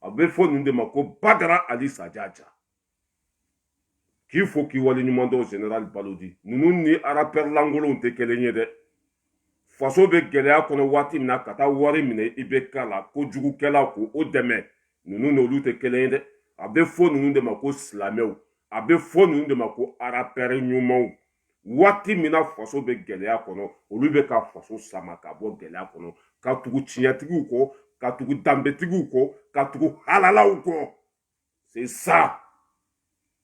a bɛ fɔ ninnu de ma ko badara ali sajaja k'i fo k'i waleɲuman dɔn general balodi ninnu ni arapɛri lankolonw tɛ kelen ye dɛ faso bɛ gɛlɛya kɔnɔ waati min na ka taa wari minɛ ibk la kojugukɛla ko o dɛmɛ ninnu n'olu tɛ kelen ye dɛ a bɛ fɔ ninnu de ma ko silamɛw a bɛ fɔ ninnu de ma ko arapɛri ɲumanw waati min na faso bɛ gɛlɛya kɔnɔ olu bɛ ka faso sama ka bɔ gɛlɛya kɔnɔ ka tugu tiɲɛtigiw kɔ ka tugu danbetigiw kɔ ka tugu halalaw kɔ c'est ça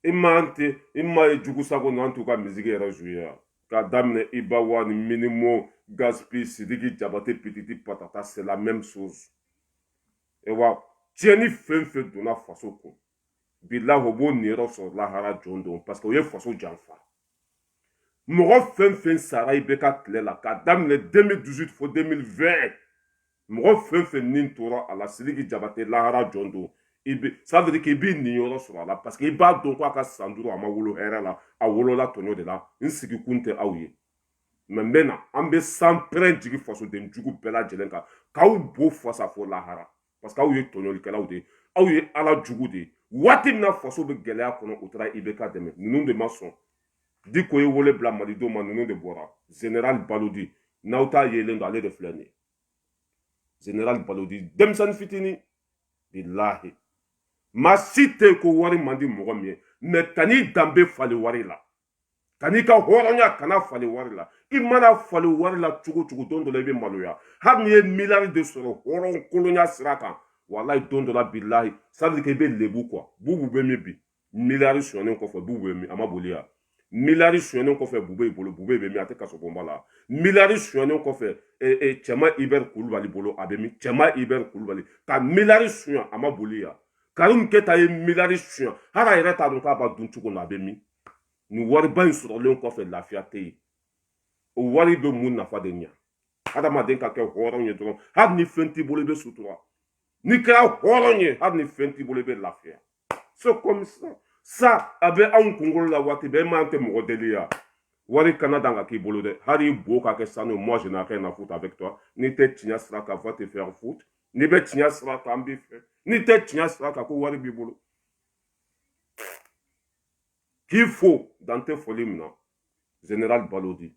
i man tɛ i ma ye jugu sago n'an t'u ka miziki yɛrɛ zuye ka daminɛ iba wani minimo gaspi sidiki jabate pititi patata c'est la même chose e wa tiɲɛni fɛn fɛn donna faso kun bilahi o b'o niyɔrɔ sɔrɔ lahara jɔ don parce que o ye faso janfa mɔgɔ fɛn fɛn sara ibk tile la k'a daminɛ 2018 fo 2020 mɔgɔ fɛn fɛn ni tora a la sidiki jabate lahara jɔ don i bɛ ça veut dire k'i b'i niyɔrɔ sɔrɔ a la parce que i b'a dɔn ko a ka san duuru a ma wolo hɛrɛ la a wolola tɔɲɔ de la n sigikun tɛ aw ye mais n bɛ na an bɛ sanpɛrɛn jigi fasoden jugu bɛɛ lajɛlen kan k'aw bo fasa fo lahara parce que aw ye tɔɲɔlikɛlaw de ye aw ye ala jugu de ye waati min na faso bɛ gɛlɛya kɔnɔ u taara ibk dɛmɛ ninnu de ma sɔn diko ye wele bila malidenw ma ninnu de bɔra general balodi n'aw t'a yelen dɔn ale de filɛ nin ye general balodi denmisɛnnin fitinin bilahi maa si tɛ yen ko wari man di mɔgɔ min ye mais kan'i danbe falen wari la kan'i ka hɔrɔnya kana falen wari la i mana falen wari la cogo cogo don dɔ la i bɛ maloya hali n'i ye miliyari de sɔrɔ hɔrɔnkolonya sira kan walayi don dɔ la bilahi sadiri kɛ i bɛ lebu quoi bubu bɛ min bi miliyari sonyɛnen kɔfɛ bubu bɛ min a ma boli yan miliyari sonyɛnen kɔfɛ bubeyi bolo bube bɛ min a tɛ kasobonba la miliyari sonyɛnen kɔfɛ cɛman ibɛri kulubali bolo a bɛ min cɛman ibɛri kulubali ka miliyari sonya a ma boli yan karimu keyita ye miliyari sonya hali a yɛrɛ t'a dɔn k'a b'a dun cogo la a bɛ min ni wariba in sɔrɔlen kɔfɛ lafiya tɛ yen o wari bɛ mun nafa de ɲa hadamaden ka kɛ hɔrɔn ye dɔrɔn hali ni fɛn t'i bolo i bɛ sutura n'i kɛra hɔrɔn ye hali ni fɛn t'i bolo i bɛ lafiya so comme ça sa a bɛ anw kunkolo la waati bɛɛ mais an tɛ mɔgɔ deli yan wari kana dan ka k'i bolo dɛ hal'i bo ka kɛ sanu moi je n'ai rien à foutre avec toi n'i tɛ tiɲɛ sira kan va te faire foutre n'i bɛ tiɲɛ sira kan an b'i fɛ n'i tɛ tiɲɛ sira kan ko wari b'i bolo k'i fo dan tɛ foli min na general balodi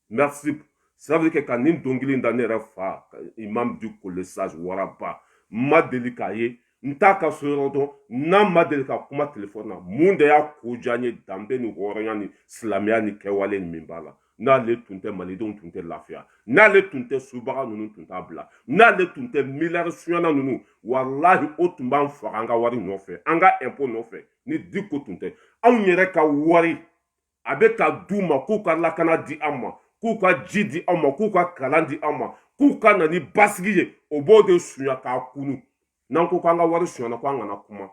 merci ça veut dire que ka nin dɔnkili da ne yɛrɛ fa imam diko le sage waraba n ma deli k'a ye n t'a ka so yɔrɔ dɔn n'a ma deli ka kuma telefɔni na mun de y'a ko diya n ye danbe ni hɔrɔnya ni silamɛya ni kɛwale ni min b'a la n'ale tun tɛ malidenw tun tɛ lafiya n'ale tun tɛ subaga ninnu tun t'a bila n'ale tun tɛ miliyari sunyana ninnu walahi o tun b'an faga an ka wari nɔfɛ an ka ɛnpo nɔfɛ ni diko tun tɛ anw yɛrɛ ka wari an bɛ k'a d'u ma k'u ka lakana di an ma k'u ka ji di an ma k'u ka kalan di an ma k'u ka na ni basigi ye o b'o de sunya k'a kunu n'an ko k'an ka wari sonyana ko an kana kuma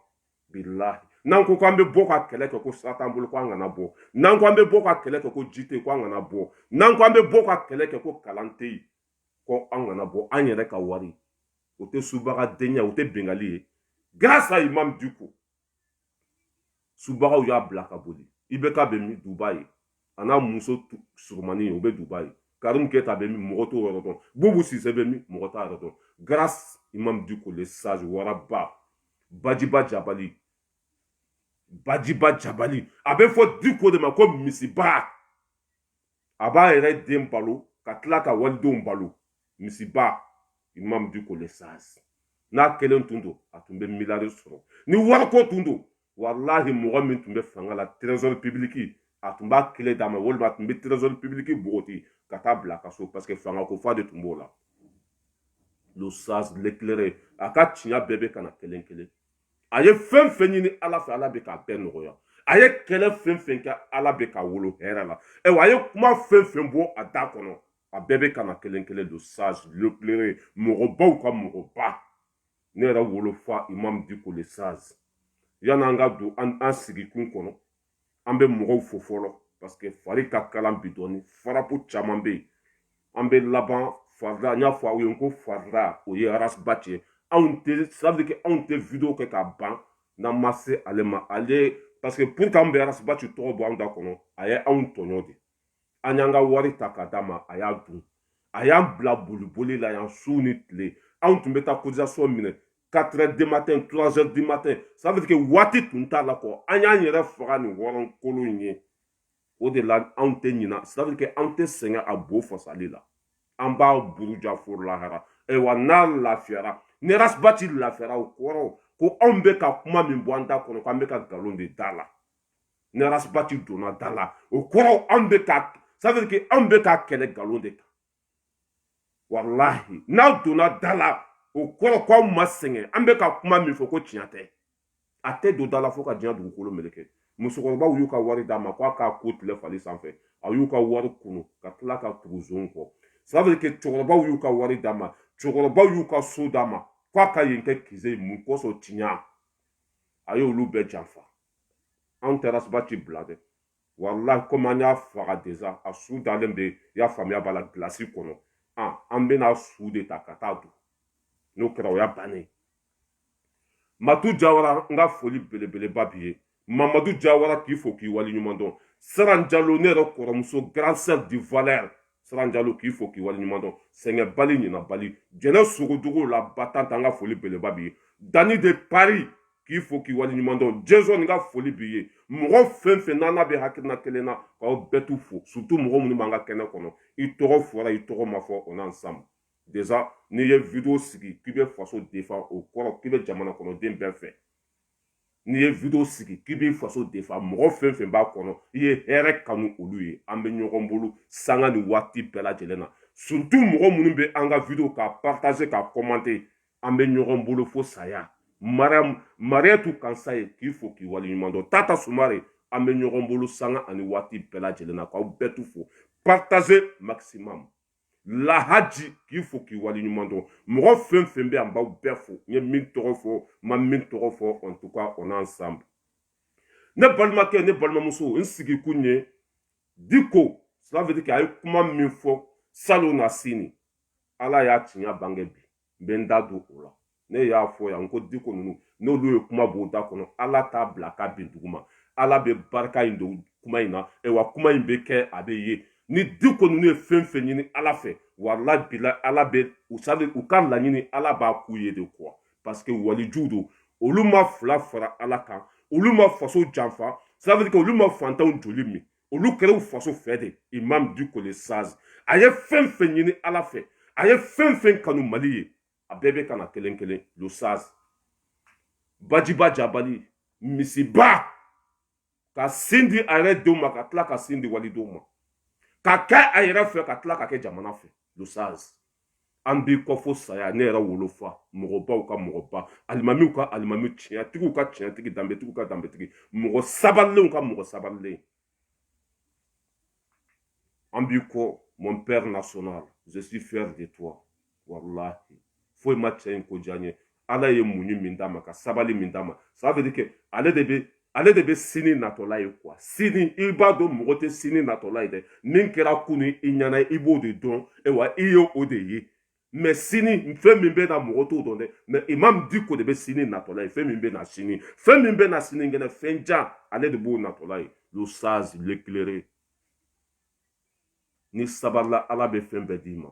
bilahi n'an ko k'an bɛ bɔ ka kɛlɛ kɛ ko sira t'an bolo ko an kana bɔ n'an ko an bɛ bɔ ka kɛlɛ kɛ ko ji tɛ ko an kana bɔ n'an ko an bɛ bɔ ka kɛlɛ kɛ ko kalan tɛ yen ko an kana bɔ an yɛrɛ ka wari o tɛ subaga denya o tɛ binkanni ye grâce à Imam Diko subagaw y'a bila ka boli IBK bɛ min dubayi a n'a muso surumani u bɛ dubayi karimu keyita bɛ min mɔgɔ t'o yɔrɔ dɔn bubu sise bɛ min mɔgɔ t'a yɔrɔ dɔn grâce imam diko le sage waraba bajiba jabali bajiba jabali a bɛ fɔ diko de ma ko misiba a b'a yɛrɛ den balo ka tila ka walidenw balo misiba imam diko le sage n'a kelen tun don a tun bɛ miliyari sɔrɔ ni wariko tun don walahi mɔgɔ min tun bɛ fanga la trésor public a tun b'a kile d'a ma walima a tun bɛ trésor public bogoti ka taa bila ka so parce que fanga ko fa de tun b'o la le sage l'éclairé a ka tiɲɛ bɛɛ bɛ ka na kelen kelen a ye fɛn fɛn ɲini ala fɛ ala bɛ k'a bɛɛ nɔgɔya a ye kɛlɛ fɛn fɛn kɛ ala bɛ k'a wolo hɛrɛ la ayiwa a ye kuma fɛn fɛn bɔ a da kɔnɔ a bɛɛ bɛ ka na kelen kelen le sage l'éclairé mɔgɔbaw ka mɔgɔba ne yɛrɛ wolofa imam diko le sage yan'an ka don an sigikun kɔnɔ an bɛ mɔgɔw fo fɔlɔ parce que fari ka kalan bi dɔɔni farapu caman bɛ yen an bɛ laban farida n y'a fɔ aw ye n ko farida o ye Ras Bath ye ça veut dire que anw tɛ video kɛ k'a ban n'an ma se ale ma ale parce que pourquoi an bɛ Ras Bath tɔgɔ bɔ anw da kɔnɔ a ye anw tɔɲɔ de an y'an ka wari ta ka d'a ma a y'a dun a y'an bila boliboli la yan su ni tile anw tun bɛ taa cotisation minɛ 4 heures du matin 3 heures du matin ça veut dire que waati tun t'a la kɔ an y'an yɛrɛ faga nin hɔrɔnkolon in ye o de la anw tɛ ɲina ça veut dire que anw tɛ sɛgɛn a bo fasali la an b'a buruja fo lahara ayiwa n'a lafiyara ni Ras Bath lafiyara o kɔrɔ ko anw bɛ ka kuma min bɔ an da kɔnɔ ko an bɛ ka nkalon de d'a la ni ras bath donna da la o kɔrɔ an bɛ ka ça veut dire que an bɛ ka kɛlɛ nkalon de kan walahi n'a donna da la o kɔrɔ ko aw ma sɛgɛn an bɛ ka kuma min fɔ ko tiɲɛ tɛ a tɛ don da la fo ka diɲɛ dugukolo meleke musokɔrɔbaw y'u ka wari d'a ma ko a k'a ko tile fali sanfɛ a y'u ka wari kunu ka tila ka tugu zon kɔ ça veut dire que cɛkɔrɔbaw y'u ka wari d'a ma cɛkɔrɔbaw y'u ka so d'a ma ko a ka yen kɛ QG mun kosɔn tiɲɛ a y'olu bɛɛ janfa anw tɛ ras bath bila dɛ walahi komi an y'a faga déjà a su dalen bɛ i y'a faamuya b'a la gilasi kɔnɔ an bɛna su de ta ka taa don n'o kɛra o y'a bannen matu jawara n ka foli belebeleba b'i ye mamadu jawara k'i fo k'i waleɲuman dɔn saran jalo ne yɛrɛ kɔrɔmuso grand sœur du valeur siran jalo k'i fo k'i waleɲuman dɔn sɛgɛnbali ɲinabali jɛnɛ sogodogo la battante an ka foli beleba b'i ye dany de paris k'i fo k'i waleɲuman dɔn jɛnsɔn n ka foli b'i ye mɔgɔ fɛn fɛn n'an n'a bɛ hakilina kelen na k'aw bɛɛ tout fo surtout mɔgɔ minnu b'an ka kɛnɛ kɔnɔ i tɔgɔ fɔra i tɔgɔ ma fɔ on est ensemble déjà n'i ye video sigi k'i bɛ faso défendre o kɔrɔ k'i bɛ jamana kɔnɔden bɛɛ fɛ n'i ye video sigi k'i b'i faso défendre mɔgɔ fɛn fɛn b'a kɔnɔ i ye hɛrɛ kanu olu ye an bɛ ɲɔgɔn bolo sanga ni waati bɛɛ lajɛlen na surtout mɔgɔ minnu bɛ an ka video ka partager ka commenter an bɛ ɲɔgɔn bolo fo saya mariam mariatu kansaye k'i fo k'i waleɲuman dɔn tata sumare an bɛ ɲɔgɔn bolo sanga ani waati bɛɛ lajɛlen na k'aw bɛɛ tout fo partager maximum lahaji k'i fo k'i waleɲuman dɔn mɔgɔ fɛn fɛn bɛ yan n b'aw bɛɛ fo n ye min tɔgɔ fɔ n ma min tɔgɔ fɔ en tout cas on est ensemble ne balimakɛ ne balimamuso n sigikun ye diko cela veut dire que a ye kuma min fɔ salonnasini ala y'a tiɲɛ bange bi n bɛ n da don o la ne y'a fɔ yan n ko diko ninnu n'olu ye kuma bɔ u da kɔnɔ ala t'a bila ka bin duguma ala bɛ barika in don kuma in na wa kuma in bɛ kɛ a bɛ ye ni diko ninnu ye fɛn fɛn ɲini ala fɛ walahi bilahi ala bɛ u jaabi u ka laɲini ala b'a k'u ye de quoi parce que walijuw don olu ma fila fara ala kan olu ma faso janfa ça veut dire olu ma fantanw joli min olu kɛra u faso fɛ de imam diko le sage a ye fɛn fɛn ɲini ala fɛ a ye fɛn fɛn kanu mali ye a bɛɛ bɛ ka na kelen kelen le sage bajiba jabali misiba ka sin di a yɛrɛ denw ma ka tila ka sin di walidenw ma ka kɛ a yɛrɛ fɛ ka tila ka kɛ jamana fɛ le sage an b'i kɔ fo saya ne yɛrɛ wolofa mɔgɔbaw ka mɔgɔba alimamiw ka alimami tiɲɛtigiw ka tiɲɛtigi danbetigiw ka danbetigi mɔgɔ sabalilenw ka mɔgɔ sabalilen an b'i kɔ mon père national je suis fier de toi walahi foyi ma cɛ in ko diya n ye ala ye muɲu min d'a ma ka sabali min d'a ma ça veut dire que ale de bɛ ale de bɛ sini natɔla ye quoi sini i b'a dɔn mɔgɔ tɛ sini natɔla ye dɛ min kɛra kunu i ɲɛ na i b'o de dɔn ayiwa i ye o de ye mais sini fɛn min bɛ na mɔgɔ t'o dɔn dɛ mais imam diko de bɛ sini natɔla ye fɛn min bɛ na sini fɛn min bɛ na sini kɛnɛ fɛn jan ale de b'o natɔla ye le sage l'éclairé n'i sabarila ala bɛ fɛn bɛɛ d'i ma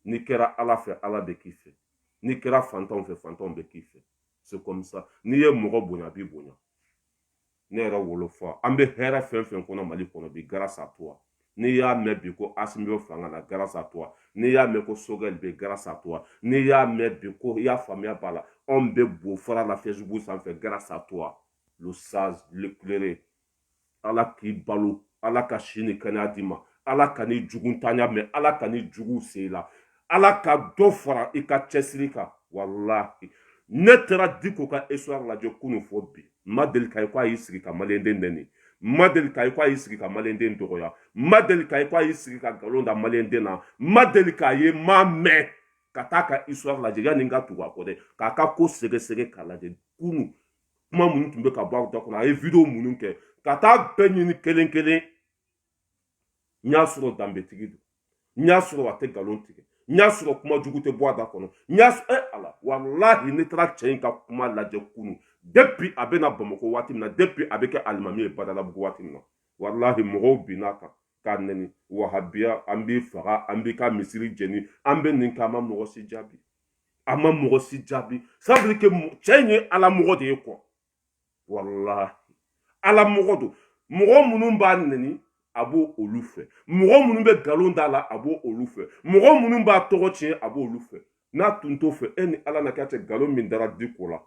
n'i kɛra ala fɛ ala bɛ k'i fɛ n'i kɛra fantanw fɛ fantanw bɛ k'i fɛ c'est comme ça n'i ye mɔgɔ bonya a b'i bonya ne yɛrɛ wolofa an bɛ hɛrɛ fɛn fɛn kɔnɔ mali kɔnɔ bi grâce à toi n'i y'a mɛn bi ko asimi bɛ fanga la grâce à toi n'i y'a mɛn ko sogɛli bɛ grâce à toi n'i y'a mɛn bi ko i y'a faamuya b'a la anw bɛ bo fara la facebook sanfɛ grâce à toi le sage l'éclairé ala k'i balo ala ka si ni kɛnɛya d'i ma ala kan'i jugu tanya mɛn ala kan'i jugu se i la ala ka dɔ fara i ka cɛsiri kan walahi ne taara diko ka histoire lajɛ kunu fo bi n ma deli k'a ye ko a y'i sigi ka maliyɛnden nɛni n ma deli k'a ye ko a y'i sigi ka maliyɛnden dɔgɔya n ma deli k'a ye ko a y'i sigi ka nkalon da maliyɛnden na n ma deli k'a ye n m'a mɛn ka taa a ka histoire lajɛ yanni n ka tugu a kɔ dɛ k'a ka ko segesege k'a lajɛ kunu kuma minnu tun bɛ ka bɔ a da kɔnɔ a ye video minnu kɛ ka taa bɛɛ ɲini kelen kelen n y'a sɔrɔ danbetigi don n y'a sɔrɔ a tɛ nkalon tigɛ n y'a sɔrɔ kuma jugu tɛ bɔ a da kɔnɔ n y'a sɔrɔ ɛ ala walahi ne taara cɛ in ka kuma lajɛ kunu depuis a bɛ na bamakɔ waati min na depuis a bɛ kɛ alimami ye badalabugu waati min na walahi mɔgɔw binna a kan k'a nɛni wahabiya an b'i faga an b'i ka misiri jeni an bɛ nin kɛ a ma mɔgɔ si jaabi a ma mɔgɔ si jaabi ça veut dire que cɛ in ye ala mɔgɔ de ye kɔ walahi ala mɔgɔ don mɔgɔ minnu b'a nɛni a bɛ olu fɛ mɔgɔ minnu bɛ nkalon d'a la a bɛ olu fɛ mɔgɔ minnu b'a tɔgɔ tiɲɛ a b'olu fɛ n'a tun t'u fɛ e ni ala n'a kira cɛ nkalon min dara diko la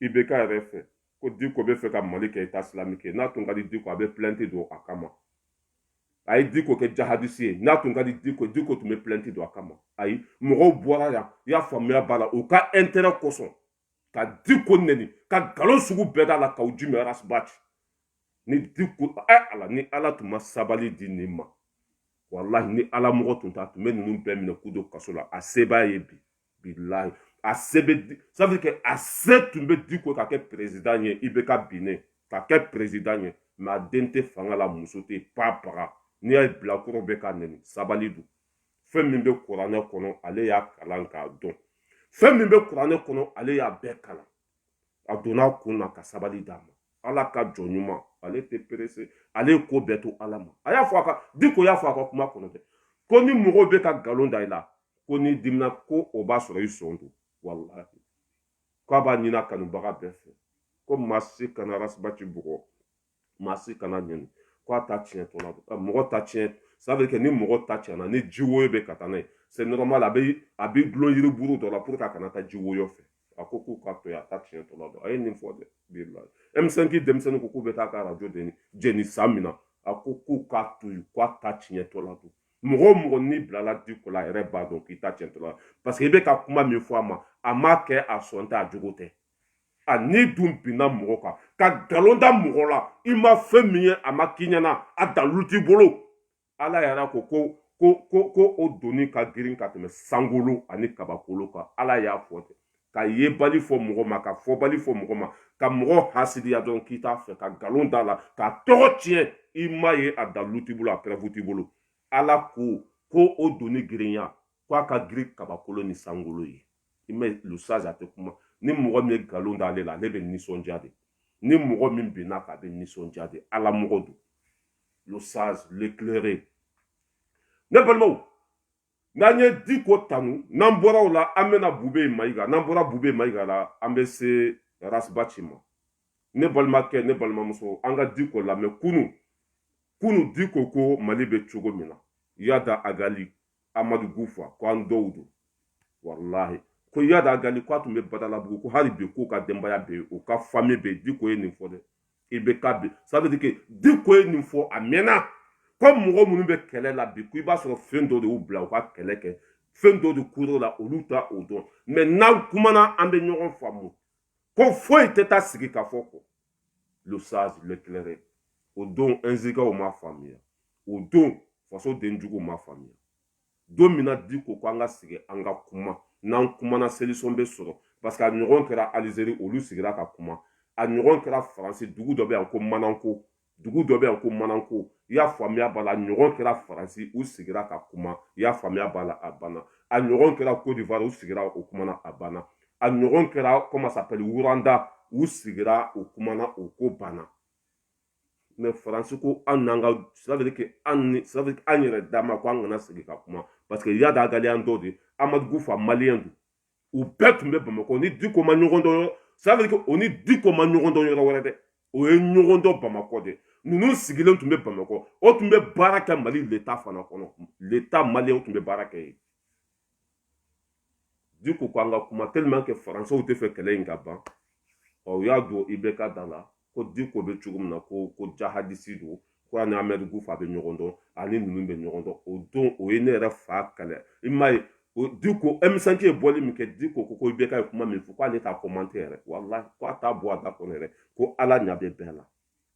ibk yɛrɛ fɛ ko diko b'a fɛ ka mali kɛ état islamique n'a tun ka di diko a bɛ plainte don a kama a ye diko kɛ djihadiste ye n'a tun ka di diko diko tun bɛ plainte don a kama ayi mɔgɔw bɔra yan i y'a faamuya b'a la u ka intérêt kosɔn ka diko nɛni ka nkalon sugu bɛɛ d'a la kaou djim ras bath ni diko ɛ eh, ala ni ala tun ma sabali di nin ma walahi ni ala mɔgɔ tun tɛ a tun bɛ ninnu bɛɛ minɛ k'u don kaso la a se b'a ye bi bilayi a se bɛ di ça veut dire que a se tun bɛ diko ka kɛ président ye ibk binnen ka kɛ président ye mais a den tɛ fanga la muso tɛ pa baga n'i y'a ye bilakoro bɛ k'a nɛni sabali don fɛn min bɛ kuranɛ kɔnɔ ale y'a kalan k'a dɔn fɛn min bɛ kuranɛ kɔnɔ ale y'a bɛɛ kalan a donna kun na ka sabali d'a ma ala ka jɔn ɲuman ale tɛ perese ale ye ko bɛɛ to ala ma a y'a fɔ a ka diko y'a fɔ a ka kuma kɔnɔ dɛ ko ni mɔgɔw bɛ ka nkalon da i la ko n'i dimina ko o b'a sɔrɔ i sɔn don walahi k'a b'a ɲini a kanubaga bɛɛ fɛ ko maa si kana rasibati bugɔ maa si kan'a nɛni ko a ta tiɲɛ tɔ la mɔgɔ ta tiɲɛ ça veut dire que ni mɔgɔ ta tiɲɛna ni ji woyo bɛ ka taa n'a ye c'est normal a bɛ a bɛ dulon yiri buru dɔ la pour que a kana taa ji woyo fɛ a ko k'u k'a to yen a ta tiɲɛ tɔ la don a ye nin fɔ dɛ bi la M5 denmisɛnninw ko k'u bɛ taa a ka arajo de jeni san min na a ko k'u k'a to yen k'a ta tiɲɛ tɔ la don mɔgɔ o mɔgɔ n'i bilala diko la a yɛrɛ b'a dɔn k'i ta tiɲɛ tɔ la parce que i bɛ ka kuma min fɔ a ma a m'a kɛ a sɔn tɛ a jogo tɛ a n'i dun binna mɔgɔ kan ka nkalon da mɔgɔ la i ma fɛn min ye a ma k'i ɲɛna a dalu t'i bolo ala yɛrɛ ko ko o doni ka girin ka tɛmɛ sankolo ani kabakolo kan ala y'a fɔ ten ka yebali fɔ mɔgɔ ma ka fɔbali fɔ mɔgɔ ma ka mɔgɔ hasidiya dɔn k'i t'a fɛ ka nkalon d'a la k'a tɔgɔ tiɲɛ i m'a ye a dalu t'i bolo a preuve t'i bolo ala ko ko o doni girinya ko a ka girin kabakolo ni sankolo ye imam le sage a tɛ kuma ni mɔgɔ min ye nkalon d'ale la ale bɛ nisɔndiya de ni mɔgɔ min binna a kan a bɛ nisɔndiya de ala mɔgɔ don le sage l'éclairé ne balimaw n'an ye diko tanu n'an bɔra o la an bɛna bube mayiga n'an bɔra bube mayiga la an bɛ se rasibati ma ne balimakɛ ne balimamuso an ka diko lamɛn kunu kunu diko ko mali bɛ cogo min na iyad agali amadu kufa ko an dɔw don walahi ko iyad agali ko a tun bɛ badalabugu ko hali bi k'u ka denbaya bɛ yen u ka fami bɛ yen diko ye nin fɔ dɛ i bɛ ka bi ça veut dire que diko ye nin fɔ a mɛnna ko mɔgɔ minnu bɛ kɛlɛ la bi ko i b'a sɔrɔ fɛn dɔ de y'u bila u ka kɛlɛ kɛ fɛn dɔ de kuro la olu t'o dɔn mais n'an kumana an bɛ ɲɔgɔn faamu ko foyi tɛ taa sigi ka fɔ kɔ le sage l'éclairé o don nzikaw m'a faamuya o don fasoden juguw m'a faamuya don min na diko ko an ka sigi an ka kuma n'an kumana solution bɛ sɔrɔ parce que a ɲɔgɔn kɛra alizeri olu sigira ka kuma a ɲɔgɔn kɛra faransi dugu dɔ bɛ yan ko mananko dugu dɔ bɛ yan ko mananko i y'a faamuya b'a la a ɲɔgɔn kɛra faransi u sigira ka kuma i y'a faamuya b'a la a banna a ɲɔgɔn kɛra côte d'ivoire u sigira u kumana a banna a ɲɔgɔn kɛra comment ça s'appelle wuranda u sigira u kumana u ko banna mais faransi ko an n'an ka c'est à dire que an ni c'est à dire an yɛrɛ dama ko an kana sigi ka kuma parce que iyad agali an dɔ de amadu kufa maliyɛn don u bɛɛ tun bɛ bamakɔ u ni diko ma ɲɔgɔn dɔn yɔrɔ c'est à dire que u ni diko ma ɲɔgɔn dɔn yɔrɔ wɛrɛ dɛ u ye ɲɔgɔn dɔn bamakɔ de ninnu sigilen tun bɛ bamakɔ u tun bɛ baara kɛ mali l'état fana kɔnɔ l'état malien u tun bɛ baara kɛ yen diko ko an ka kuma tellement que faransɛw tɛ fɛ kɛlɛ in ka ban ɔ u y'a don ibeka da la ko diko bɛ cogo min na ko ko jahadisi don ko a ni amadu gufa bɛ ɲɔgɔn dɔn a ni ninnu bɛ ɲɔgɔn dɔn o don o ye ne yɛrɛ fa kɛlɛ i m'a ye o diko emisɛnki ye bɔli min kɛ diko ko ko ibeka ye kuma min fɔ k'ale t'a kɔmante yɛrɛ walahi ko a t'a bɔ a da kɔnɔ yɛrɛ ko ala ɲa bɛ bɛɛ la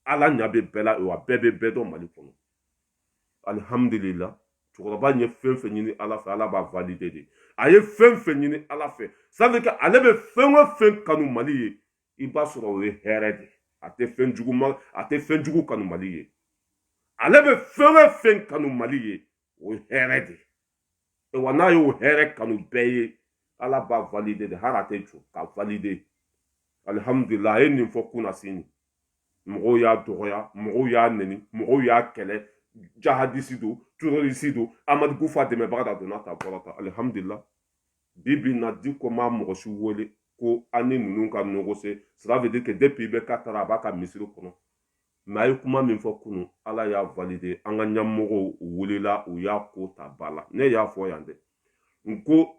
ala ɲa bɛ bɛɛ la wa bɛɛ bɛ bɛɛ dɔn mali kɔnɔ alihamudulila cɛkɔrɔba ye fɛn fɛn ɲini ala fɛ ala b'a valide de a ye fɛn fɛn ɲini ala fɛ ça veut dire quoi ale bɛ fɛn o fɛn kanu mali ye i b'a sɔrɔ o ye hɛrɛ de a tɛ fɛn jugu ma a tɛ fɛn jugu kanu mali ye ale bɛ fɛn o fɛn kanu mali ye o ye hɛrɛ de wa n'a y'o hɛrɛ kanu bɛɛ ye ala b'a valide de hali a tɛ jɔ ka valide alihamudulila a ye nin fɔ kunasini mɔgɔw y'a dɔgɔya mɔgɔw y'a neni mɔgɔw y'a kɛlɛ jahadisi don turorisi don amadu gufa dɛmɛbaga don a donna tan bɔra tan alihamudulila bi bi in na diko ma mɔgɔ si wele ko an ni ninnu ka negosiye cela veut dire que depuis ibeka taara a b'a ka misiri kɔnɔ mɛ a ye kuma min fɔ kunu ala y'a valide an ka ɲɛmɔgɔw wulila u y'a ko ta ba la ne y'a fɔ yan dɛ n ko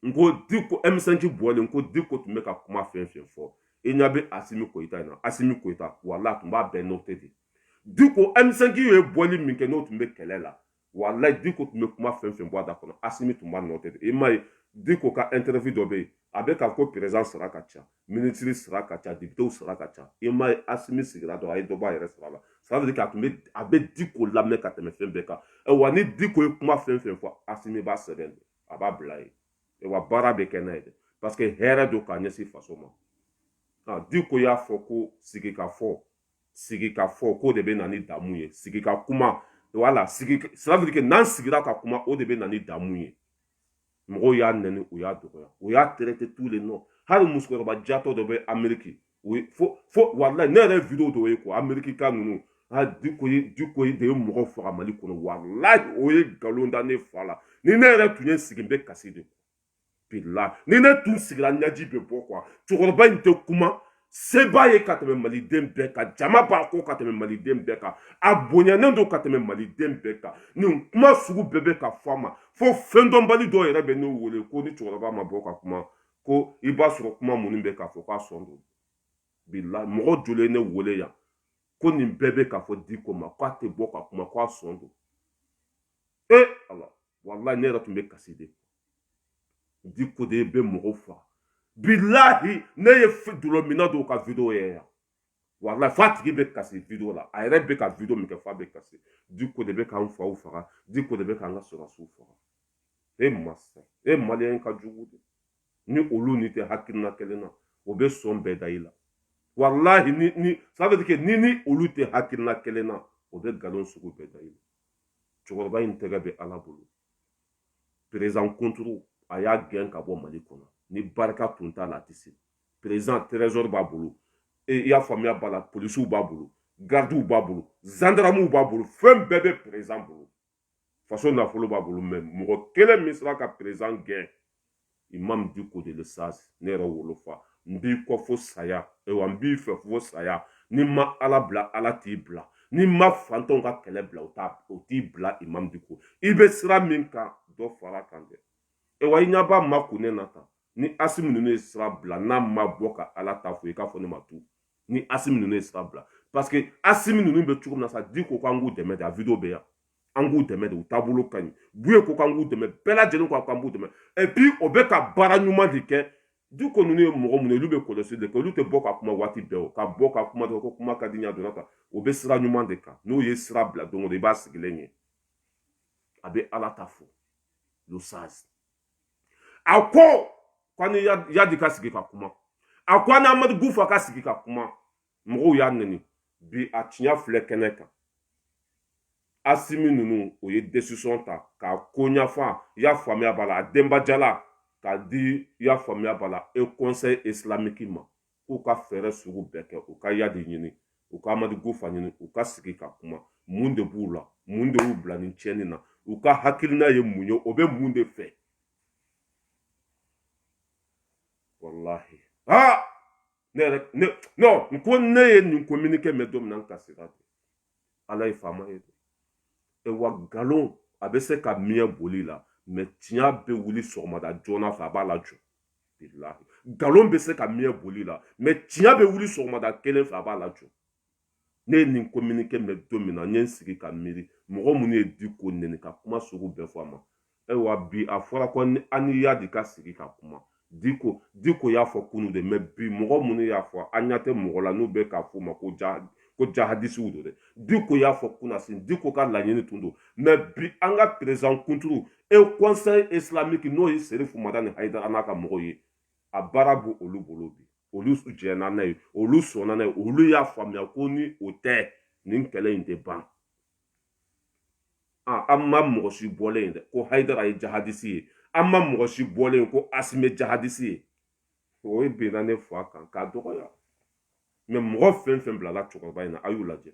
n ko diko emisɛnki bɔlen n ko diko tun bɛ ka kuma fɛn fɛn fɔ i ɲa bɛ asimi koyita in na asimi koyita walayi tun b'a bɛɛ nɔte de diko emisɛnki ye bɔli min kɛ n'o tun bɛ kɛlɛ la walayi diko tun bɛ kuma fɛn fɛn bɔ a da kɔnɔ asimi tun b'a nɔte i m'a ye diko ka interview dɔ bɛ yen a bɛ ka ko perezidan sara ka ca minisiri sara ka ca depitew sara ka ca i m'a ye asimi sigira dɔrɔn a ye dɔ bɔ a yɛrɛ sara la ça veut dire k'a tun bɛ a bɛ diko lamɛn ka tɛmɛ fɛn bɛɛ kan wa ni diko ye kuma fɛn fɛn fɔ asimi b'a sɛbɛn de a b'a bila yen wa baara bɛ kɛ n'a ye dɛ parce que hɛrɛ don k'a ɲɛsin faso ma diko y'a fɔ ko sigikafɔ sigi ka fɔ k'o de bɛ na ni damu ye sigi ka kuma wala sigi cela veut dire que n'an sigira ka kuma o de bɛ na ni damu ye mɔgɔw y'a nɛni u y'a dɔgɔya u y'a traité tous les noms hali musokɔrɔba jatɔ dɔ bɛ ameriki o ye fo fo walayi ne yɛrɛ video dɔ ye ko amerikika ninnu a diko ye diko de ye mɔgɔ faga mali kɔnɔ walayi o ye nkalon da ne fa la ni ne yɛrɛ tun ye sigi n bɛ kasi de bila ni ne tun sigira ɲaji bɛ bɔ quoi cɛkɔrɔba in tɛ kuma se b'a ye ka tɛmɛ maliden bɛɛ kan jama b'a kɔ ka tɛmɛ maliden bɛɛ kan a bonyanen don ka tɛmɛ maliden bɛɛ kan nin kuma sugu bɛɛ bɛ ka fɔ a ma fo fɛn dɔnbali dɔw yɛrɛ bɛ ne wele ko ni cɛkɔrɔba ma bɔ ka kuma ko i b'a sɔrɔ kuma minnu bɛ ka fɔ k'a sɔn don bila mɔgɔ joli ne wele yan ko nin bɛɛ bɛ ka fɔ diko ma k'a tɛ bɔ ka kuma k'a sɔn don e ala walayi ne yɛrɛ tun bɛ kasi de diko de bɛ mɔgɔw faga bilahi ne ye dulɔminna dɔw ka video ye yan walahi f'a tigi bɛ kasi video la a yɛrɛ bɛ ka video min kɛ f'a bɛ kasi diko de bɛ k'an faw faga diko de bɛ k'an ka sɔrɔsiw faga e masa e maliyɛn ka jugu dɛ ni olu n'i tɛ hakilina kelen na o bɛ sɔn bɛɛ da i la walahi ni ni ça veut dire que n'i ni olu tɛ hakilina kelen na o bɛ nkalon sugu bɛɛ da i la cɛkɔrɔba in tɛgɛ bɛ ala bolo perezan kunturu a y'a gɛn ka bɔ mali kɔnɔ ni barika tun t'a la a tɛ se perezan trezor b'a bolo e, i y'a faamuya b'a la polisiw b'a bolo gardiw b'a bolo zandaramuw b'a bolo fɛn bɛɛ bɛ perezan bolo faso nafolo b'a bolo mɛ mɔgɔ kelen min sera ka perezan gɛn imam diko de le sage ne yɛrɛ wolofa n b'i kɔ fo saya ayiwa n b'i fɛ fo saya n'i ma ala bila ala t'i bila n'i ma fantanw ka kɛlɛ bila o t'i bila imam diko i bɛ sira min kan dɔ fara kan dɛ ayiwa i ɲɛ b'a ma kun ne na tan ni asimi ninnu ye sira bila n'a ma bɔ ka ala ta fɔ i k'a fɔ ne ma tu ni asimi ninnu ye sira bila parce que asimi ninnu bɛ cogo min na sa diko k'an k'u dɛmɛ dɛ a video bɛ yan an k'u dɛmɛ de u taabolo ka ɲi buye ko k'an k'u dɛmɛ bɛɛ lajɛlen ko k'an b'u dɛmɛ et puis o bɛ ka baara ɲuman de kɛ diko ninnu ye mɔgɔ minnu ye olu bɛ kɔlɔsi de kɛ olu tɛ bɔ ka kuma waati bɛɛ o ka bɔ ka kuma dɔrɔn ko kuma ka di ɲa donna kan o bɛ sira ɲuman de kan n'o ye sira bila don o don i b'a sigilen ye a bɛ ala ta fɔ le sage a ko k'an ni yadi ka sigi ka kuma a ko an ni amadu kufa ka sigi ka kuma mɔgɔw y'a nɛni bi a tiɲɛ filɛ kɛnɛ kan asimi ninnu o ye desisɔn ta k'a ko ɲɛfɔ y'a faamuya b'a la a denbajala k'a di y'a faamuya b'a la e kɔnsɛyi isilamiki ma k'u ka fɛɛrɛ sugu bɛɛ kɛ u ka yadi ɲini u ka amadu kufa ɲini u ka sigi ka kuma mun de b'u la mun de y'u bila nin tiɲɛni na u ka hakilina ye mun ye o bɛ mun de fɛ walahi aa ne yɛrɛ ne non n ko ne ye nin communiqué mɛn don min na n kasira dɛ ala ye faama ye awa nkalon a bɛ se ka mɛɛn boli la mɛ tiɲɛ bɛ wuli sɔgɔmada joona fɛ a b'a lajɔ bilahi nkalon bɛ se ka mɛɛn boli la mɛ tiɲɛ bɛ wuli sɔgɔmada kelen fɛ a b'a lajɔ ne ye nin kominike mɛ don min na n ye n sigi ka miiri mɔgɔ minnu ye diko nɛni ka kuma sugu bɛɛ fɔ a ma ayiwa bi a fɔra ko an ni yadi ka sigi ka kuma diko diko y'a fɔ kunu de mɛ bi mɔgɔ minnu y'a fɔ an ɲa tɛ mɔgɔ la n'u bɛ k'a f'u ma ko ja ko jahadisiw don dɛ diko y'a fɔ kunasin diko ka laɲini tun don mɛ bi an ka perezan kunturu e kɔnsɛyi islamiki n'o ye serifu madani hayidara n'a ka mɔgɔw ye a baara b'olu bolo bi olu jɛnna n'a ye olu sɔnna n'a ye olu y'a faamuya ko ni o tɛ nin kɛlɛ in tɛ ban an ma mɔgɔ si bɔlen ye dɛ ko hayidara ye jahadisi ye an ma mɔgɔ si bɔlen ye ko asimi jahadisi ye o binna ne fa kan k'a dɔgɔya mɛ mɔgɔ fɛn fɛn bilala cɛkɔrɔba in na a y'u lajɛ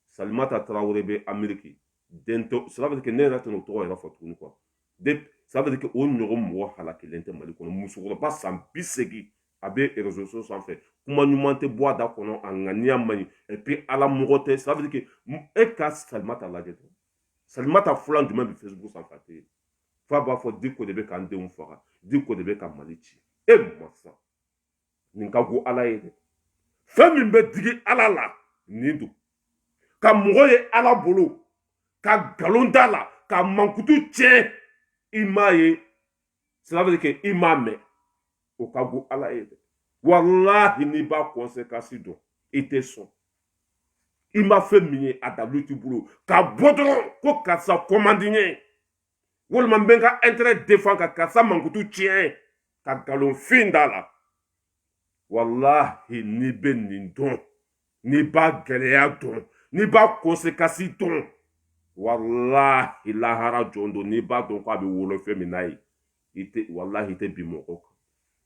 salimata tarawele bɛ ameriki den tɔ sira bɛ kɛ ne yɛrɛ tɛna o tɔgɔ yɛrɛ fɔ tuguni quoi de sira bɛ kɛ o ɲɔgɔn mɔgɔ halakilen tɛ mali kɔnɔ musokɔrɔba san bi seegin a bɛ erezoso sanfɛ kuma ɲuman tɛ bɔ a da kɔnɔ a ŋaniya man ɲi epi ala mɔgɔ tɛ sira bɛ kɛ e ka salimata lajɛ dɔrɔn salimata fula jumɛn bɛ facebook sanfɛ a tɛ yen f'a b'a fɔ diko de bɛ k'an denw faga diko de bɛ ka mali ci e masa nin ka go ala ye dɛ fɛn min bɛ digi ala la nin don ka mɔgɔ ye ala bolo ka nkalon d'a la k'a mankutu tiɲɛ i m'a ye sirabili kɛ i m'a mɛn o ka go ala ye dɛ walahi n'i b'a kɔnsekansi dɔn i tɛ sɔn i ma fɛn min ye a dalilu t'i bolo ka bɔ dɔrɔn ko karisa kɔmandi ye walima n bɛ n ka intérêt défend ka karisa mankutu tiɲɛ ka nkalonfin d'a la walahi n'i bɛ nin dɔn n'i b'a gɛlɛya dɔn n'i b'a kɔnsekansi dɔn walahi lahara jɔ don n'i b'a dɔn ko a bɛ wolo fɛn min na yen i tɛ walahi i tɛ bin mɔgɔ kan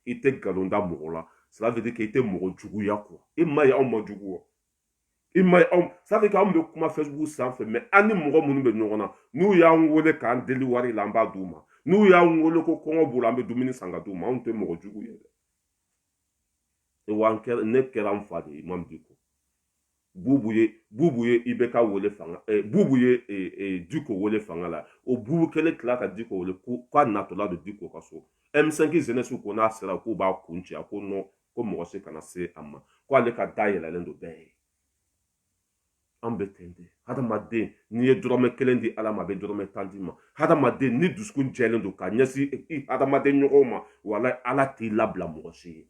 i tɛ nkalon da mɔgɔ la ça veut dire que i tɛ mɔgɔ juguya quoi i m'a ye a man jugu wa i ma aw ça fait que anw bɛ kuma facebook sanfɛ mɛ an ni mɔgɔ minnu bɛ ɲɔgɔn na n'u y'an wele k'an deli wari la an b'a d'u ma n'u y'an wele ko kɔngɔ b'u la an bɛ dumuni san k'a d'u ma anw tɛ mɔgɔ jugu ye dɛ wa kɛra ne kɛra n fa de ye mamudu diko bubu ye bubu ye i bɛ k'a wele fanga eh, bubu ye eh, eh, diko wele fanga la o bubu kelen tila ka diko wele k'a natɔla don diko ka so m5 jeunesse ko n'a sera k'u b'a kun ci a ko non ko mɔgɔ si kana se a ma ko ale ka da yɛlɛlen don bɛɛ ye an bɛ ten de hadamaden n'i ye dɔrɔmɛ kelen di ala ma a bɛ dɔrɔmɛ tan d'i ma hadamaden n'i dusukun jɛlen don ka ɲɛsin i hadamaden ɲɔgɔnw ma walahi ala t'i labila mɔgɔ si ye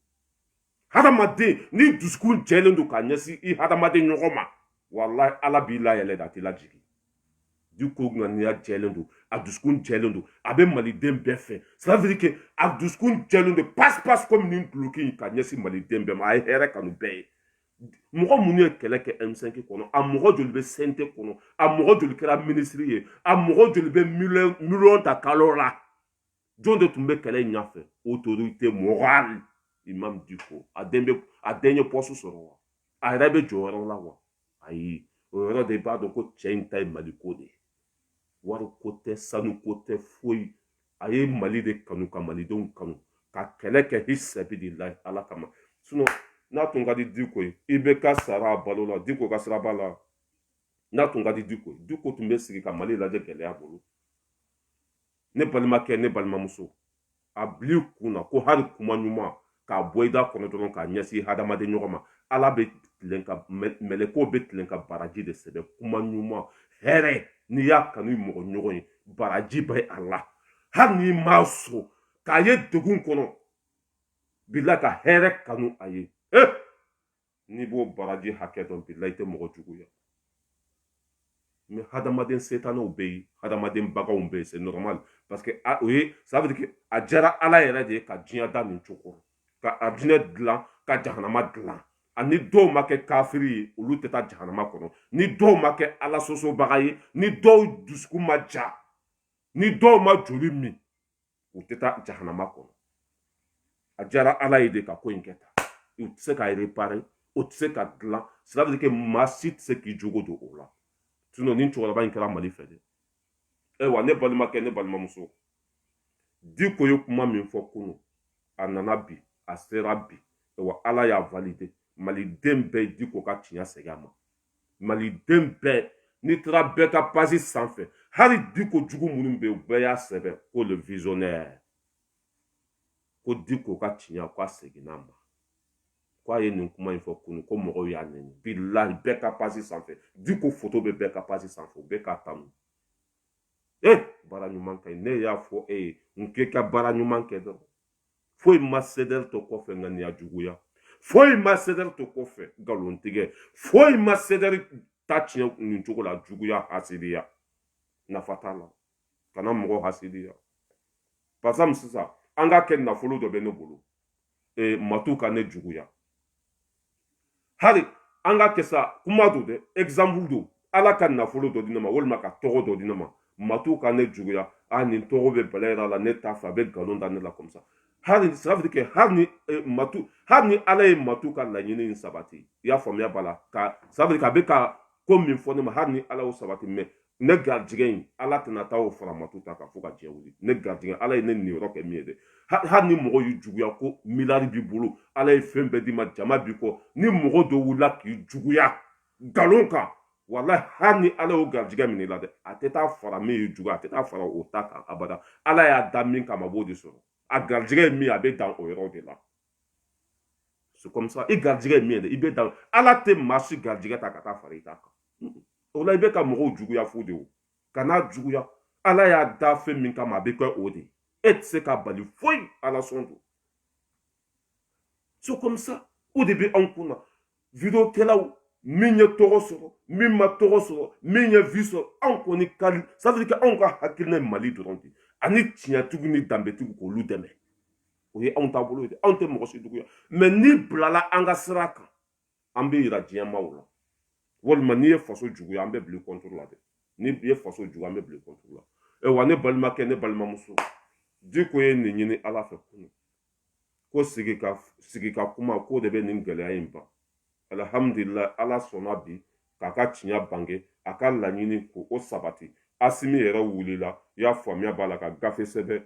hadamaden n'i dusukun jɛlen don ka ɲɛsin i hadamaden ɲɔgɔn ma walahi ala b'i layɛlɛ de a t'i lajigin diko ŋaniya jɛlen don a dusukun jɛlen don a bɛ maliden bɛɛ fɛ c'est-à-dire que a dusukun jɛlen don pasi pasi komi nin duloki in ka ɲɛsin maliden bɛɛ ma a ye hɛrɛ kanu bɛɛ ye mɔgɔ minnu ye kɛlɛ kɛ m5 kɔnɔ a mɔgɔ joli bɛ cnt kɔnɔ a mɔgɔ joli kɛra minisiri ye a mɔgɔ joli bɛ miliyɔn ta kalo la jɔn de tun bɛ kɛlɛ in ɲɛfɛ autorité morale imam diko a den bɛ a den ye poste sɔrɔ wa a yɛrɛ bɛ jɔyɔrɔ la wa ayi o yɔrɔ de b'a dɔn ko cɛ in ta ye maliko de ye wari ko tɛ sanu ko tɛ foyi a ye mali de kanu ka malidenw kanu ka kɛlɛ kɛ fisabilila ala kama sinɔn n'a tun ka di diko ye IBK sara a balola diko ka sira b'a la n'a tun ka di diko ye diko tun bɛ sigi ka mali lajɛ gɛlɛya bolo ne balimakɛ ne balimamuso a bil'i kun na ko hali kuma ɲuman k'a bɔ i da kɔnɔ dɔrɔn k'a ɲɛsin hadamaden ɲɔgɔn ma ala bɛ tilen ka mɛlɛkɛw bɛ tilen ka baraji de sɛbɛn kuma ɲuman hɛrɛ n'i y'a kanu i mɔgɔ ɲɔgɔn ye baraji bɛ a la hali n'i m'a sɔn k'a ye degun kɔnɔ bila ka hɛrɛ kanu a ye ee eh! n'i b'o baraji hakɛ dɔn bilahi i tɛ mɔgɔ juguya mais hadamaden setanɛw bɛ yen hadamaden baganw bɛ yen c'est normal parce que a o ye ça veut dire que a diyara ala yɛrɛ de ye ka diɲɛ da nin cogo ka arijinɛ dilan ka jahanama dilan a ni dɔw ma kɛ kafiri ye olu tɛ taa jahanama kɔnɔ ni dɔw ma kɛ ala sosobaga ye ni dɔw dusukun ma ja ni dɔw ma joli min u tɛ taa jahanama kɔnɔ a diyara ala ye de ka ko in kɛ tan o tɛ se ka réparer o tɛ se ka dilan sirabili kɛ maa si tɛ se k'i jogo don o la sinɔn nin cɛkɔrɔba in kɛra mali fɛ dɛ ayiwa ne balimakɛ ne balimamuso diko ye kuma min fɔ kunu a nana bi a sera bi ayiwa ala y'a valider maliden bɛɛ diko ka tiɲɛ segin a ma maliden bɛɛ n'i taara bɛɛ ka page sanfɛ hali diko jugu minnu bɛ yen u bɛɛ y'a sɛbɛn ko le visionnaire ko diko ka tiɲɛ ko a seginna a ma ko a ye nin kuma in fɔ kunu ko mɔgɔw y'a nɛni bilahi bɛɛ ka page sanfɛ diko foto bɛ bɛɛ ka page sanfɛ u bɛ k'a tanu e baara ɲuman ka ɲi ne y'a fɔ e ye n k'i ka baara ɲuman kɛ dɔrɔn foyi ma CDR to kɔfɛ ŋaniya juguya foyi ma CDR to kɔfɛ nkalon tigɛ foyi ma CDR ta tiɲɛ nin cogo la juguya hasidiya nafa t'a la kana mɔgɔ hasidiya par exemple sisan an k'a kɛ nafolo dɔ bɛ ne bolo e, matu ka ne juguya hari an k'a kɛ sa kuma don dɛ exemple don ala ka nafolo dɔ di ne ma walima ka tɔgɔ dɔ di ne ma matu ka ne juguya a nin tɔgɔ bɛ bala yɛrɛ la ne t'a fɛ a bɛ nkalon da ne la comme ça hali ça veut dire que hali ni eh, matu hali ni ala ye matu ka laɲini in sabati i y'a faamuya b'a la ka ça veut dire k'a bɛ ka ko min fɔ ne ma hali ni ala y'o sabati mais ne garijɛgɛ in ala tɛna taa o fara maa dɔ ta kan fo ka diɲɛ wuli ne garijɛgɛ ala ye ne niyɔrɔ kɛ min ye dɛ hali ni mɔgɔ y'i juguya ko miliyari b'i bolo ala ye fɛn bɛɛ d'i ma jama b'i kɔ ni mɔgɔ dɔ wulila k'i juguya nkalon kan wala hali ni ala y'o garijɛgɛ minɛ i la dɛ a tɛ taa fara min y'i juguya a tɛ taa fara o ta kan abada ala y'a da min kama a b'o de sɔrɔ a garijɛgɛ ye min ye a bɛ dan o yɔrɔ de la c'est comme ça i garijɛgɛ ye min ye dɛ i bɛ dan ala tɛ maa si garijɛgɛ ta ka taa fara i ta kan o la i bɛ ka mɔgɔw juguya fu de o kana juguya ala y'a da fɛn min kama a bɛ kɛ o de e tɛ se k'a bali foyi ala sɔn don c'est comme ça o de bɛ anw kun na video kɛlaw min ye tɔgɔ sɔrɔ min ma tɔgɔ sɔrɔ min ye vue sɔrɔ anw kɔni ka safiri kɛ anw ka hakilina ye mali dɔrɔn de ani tiɲɛtigiw ni danbetigiw k'olu dɛmɛ o ye anw taabolo ye dɛ anw tɛ mɔgɔ si juguya mais n'i bilala an ka sira kan an b'i yira diɲɛmaaw la walima n'i ye faso juguya an bɛ bil'i kɔntoro la dɛ n'i ye faso juguya an bɛ bil'i kɔntoro la wa ne balimakɛ ne balimamuso diko ye nin ɲini ala fɛ kunu ko sigi ka sigi ka kuma k'o de bɛ nin gɛlɛya in ban alihamudulila ala sɔnna bi k'a ka tiɲɛ bange a ka laɲini ko o sabati asimi yɛrɛ wulila y'a faamuya b'a la ka gafe sɛbɛn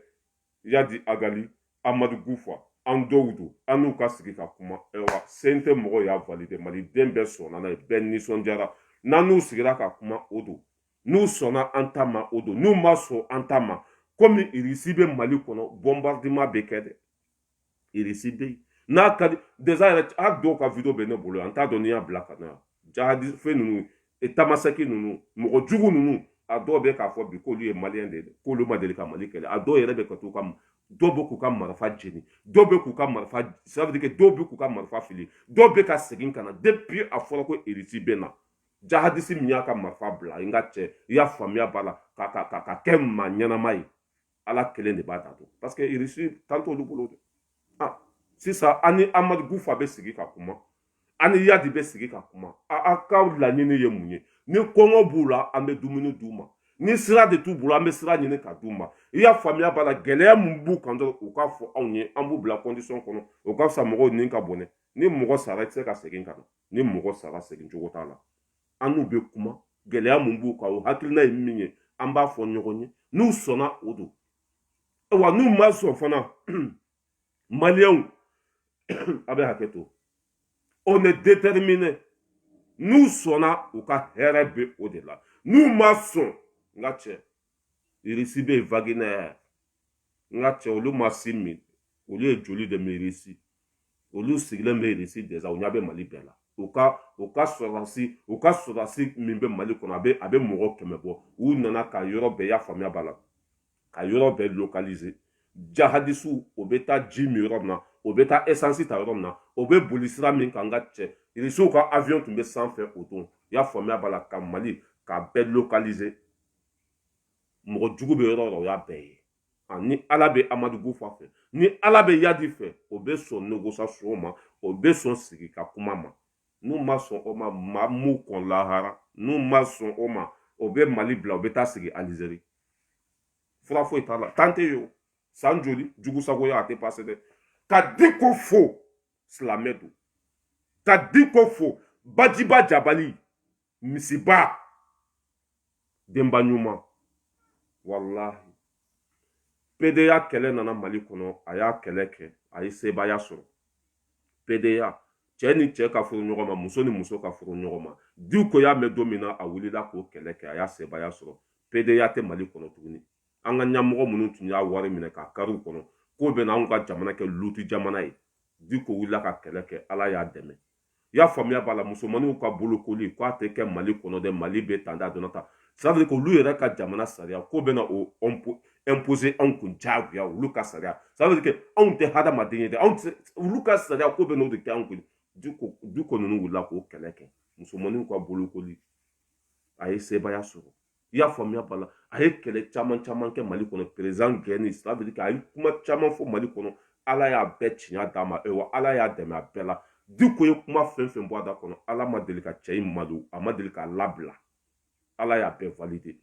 yadi agali amadu kufa an dɔw don an n'u ka sigi ka kuma ayiwa CNT mɔgɔ y'a valide maliden bɛɛ sɔnna n'a ye bɛɛ nisɔndiyara n'an n'u sigira ka kuma o don n'u sɔnna an ta ma o don n'u ma sɔn an ta ma komi irisi bɛ mali kɔnɔ bombardement bɛ kɛ dɛ irisi bɛ yen n'a ka di déjà yɛrɛ a dɔw ka video bɛ ne bolo n t'a dɔn ni n y'a bila ka na jahadi fɛn ninnu e tamasɛki ninnu mɔgɔ jugu ninnu a dɔw bɛ k'a fɔ bi k'olu ye maliyɛn de ye k'olu ma deli ka mali kɛlɛ a dɔw yɛrɛ bɛ ka t'u ka dɔw bɛ k'u ka marifa jeni dɔw bɛ k'u ka marifa sabudike dɔw bɛ k'u ka marifa fili dɔw bɛ ka segin ka na depuis a fɔra ko irisi bɛ na jahadisi min y'a ka marifa bila n ka cɛ i y'a faamuya b'a la ka ka ka ka kɛ maa ɲɛnama ye ala kelen de b'a dan dɔn parce que irisi tan t'olu bolo dɛ ah sisan an ni amadu kufa bɛ sigi ka kuma an ni yadi bɛ sigi ka kuma a a ka laɲini ye mun ye ni kɔngɔ b'u la an bɛ dumuni d'u ma ni sira de t'u bolo an bɛ sira ɲini ka d'u ma i y'a faamuya b'a la gɛlɛya min b'u kan dɔrɔn u k'a fɔ anw ye an b'u bila kɔndisɔn kɔnɔ o ka fisa mɔgɔw ni ka bɔnɛ ni mɔgɔ sara i tɛ se ka segin ka na ni mɔgɔ sara segin cogo t'a la an n'u bɛ kuma gɛlɛya mun b'u kan o hakilina ye min ye an b'a fɔ ɲɔgɔn ye n'u sɔnna o don wa n'u ma sɔn fana maliyɛnw a bɛ hakɛ to on est déterminé n'u sɔnna u ka hɛrɛ bɛ o de la n'u ma sɔn n ka cɛ irisi bɛ yen wagner n ka cɛ olu ma sin min olu ye joli de min irisi olu sigilen bɛ irisi déjà u ɲɛ bɛ mali bɛɛ la u ka u ka sɔrɔdasi u ka sɔrɔdasi min bɛ mali kɔnɔ a bɛ a bɛ mɔgɔ kɛmɛ bɔ u nana ka yɔrɔ bɛɛ y'a faamuya b'a la ka yɔrɔ bɛɛ localiser jahadisiw o bɛ taa ji min yɔrɔ min na o bɛ taa esansi ta yɔrɔ min na o bɛ boli sira min kan n ka cɛ irisiw ka avion tun bɛ sanfɛ o don y'a faamuya b'a la ka mali k'a bɛɛ localiser mɔgɔ jugu bɛ yɔrɔ yɔrɔ o y'a bɛɛ ye ni ala bɛ amadu kufa fɛ ni ala bɛ iyadi fɛ o bɛ sɔn négociation ma o bɛ sɔn sigi ka kuma ma n'u ma sɔn o ma maa m'u kɔn lahara n'u ma sɔn o ma o bɛ mali bila o bɛ taa sigi alizeri fura foyi t'a la tan tɛ yen o san joli jugu sagoya a tɛ pase dɛ ka diko fo silamɛ don ka diko fo bajiba jabali misiba denba ɲuman walahi pedeya kɛlɛ nana mali kɔnɔ a y'a kɛlɛ kɛ a ye sebaaya sɔrɔ pedeya cɛ ni cɛ ka furu ɲɔgɔn ma muso ni muso ka furu ɲɔgɔn ma diko y'a mɛn don min na a wulila k'o kɛlɛ kɛ a ye sebaaya sɔrɔ pedeya tɛ mali kɔnɔ tuguni an ka ɲɛmɔgɔ minnu tun y'a wari minɛ k'a kari u kɔnɔ k'o bɛna anw ka jamana kɛ lutu jamana ye diko wulila ka kɛlɛ kɛ ala y'a dɛmɛ i y'a faamuya b'a la musomanninw ka bolokoli k'a tɛ kɛ mali kɔnɔ dɛ mali bɛ tanda dɔrɔn ta c'est-à-dire ko olu yɛrɛ ka jamana sariya ko bɛna o imposer anw kun diyagoya olu ka sariya c'est-à-dire que anw tɛ hadamaden ye dɛ anw tɛ olu ka sariya ko bɛna o de kɛ anw kun diko nin wulila k'o kɛlɛ kɛ musomanninw ka bolokoli a ye sebaaya sɔrɔ i y'a faamuya b'a la a ye kɛlɛ caman caman kɛ mali kɔnɔ perezan gɛni sabiri a ye kuma caman fɔ mali kɔnɔ ala y'a bɛɛ tiɲɛ d'a ma wa ala y'a dɛmɛ a bɛɛ la diko ye kuma fɛn fɛn bɔ a da kɔnɔ ala ma deli ka cɛ in malo a ma deli k'a labila ala y'a bɛɛ valide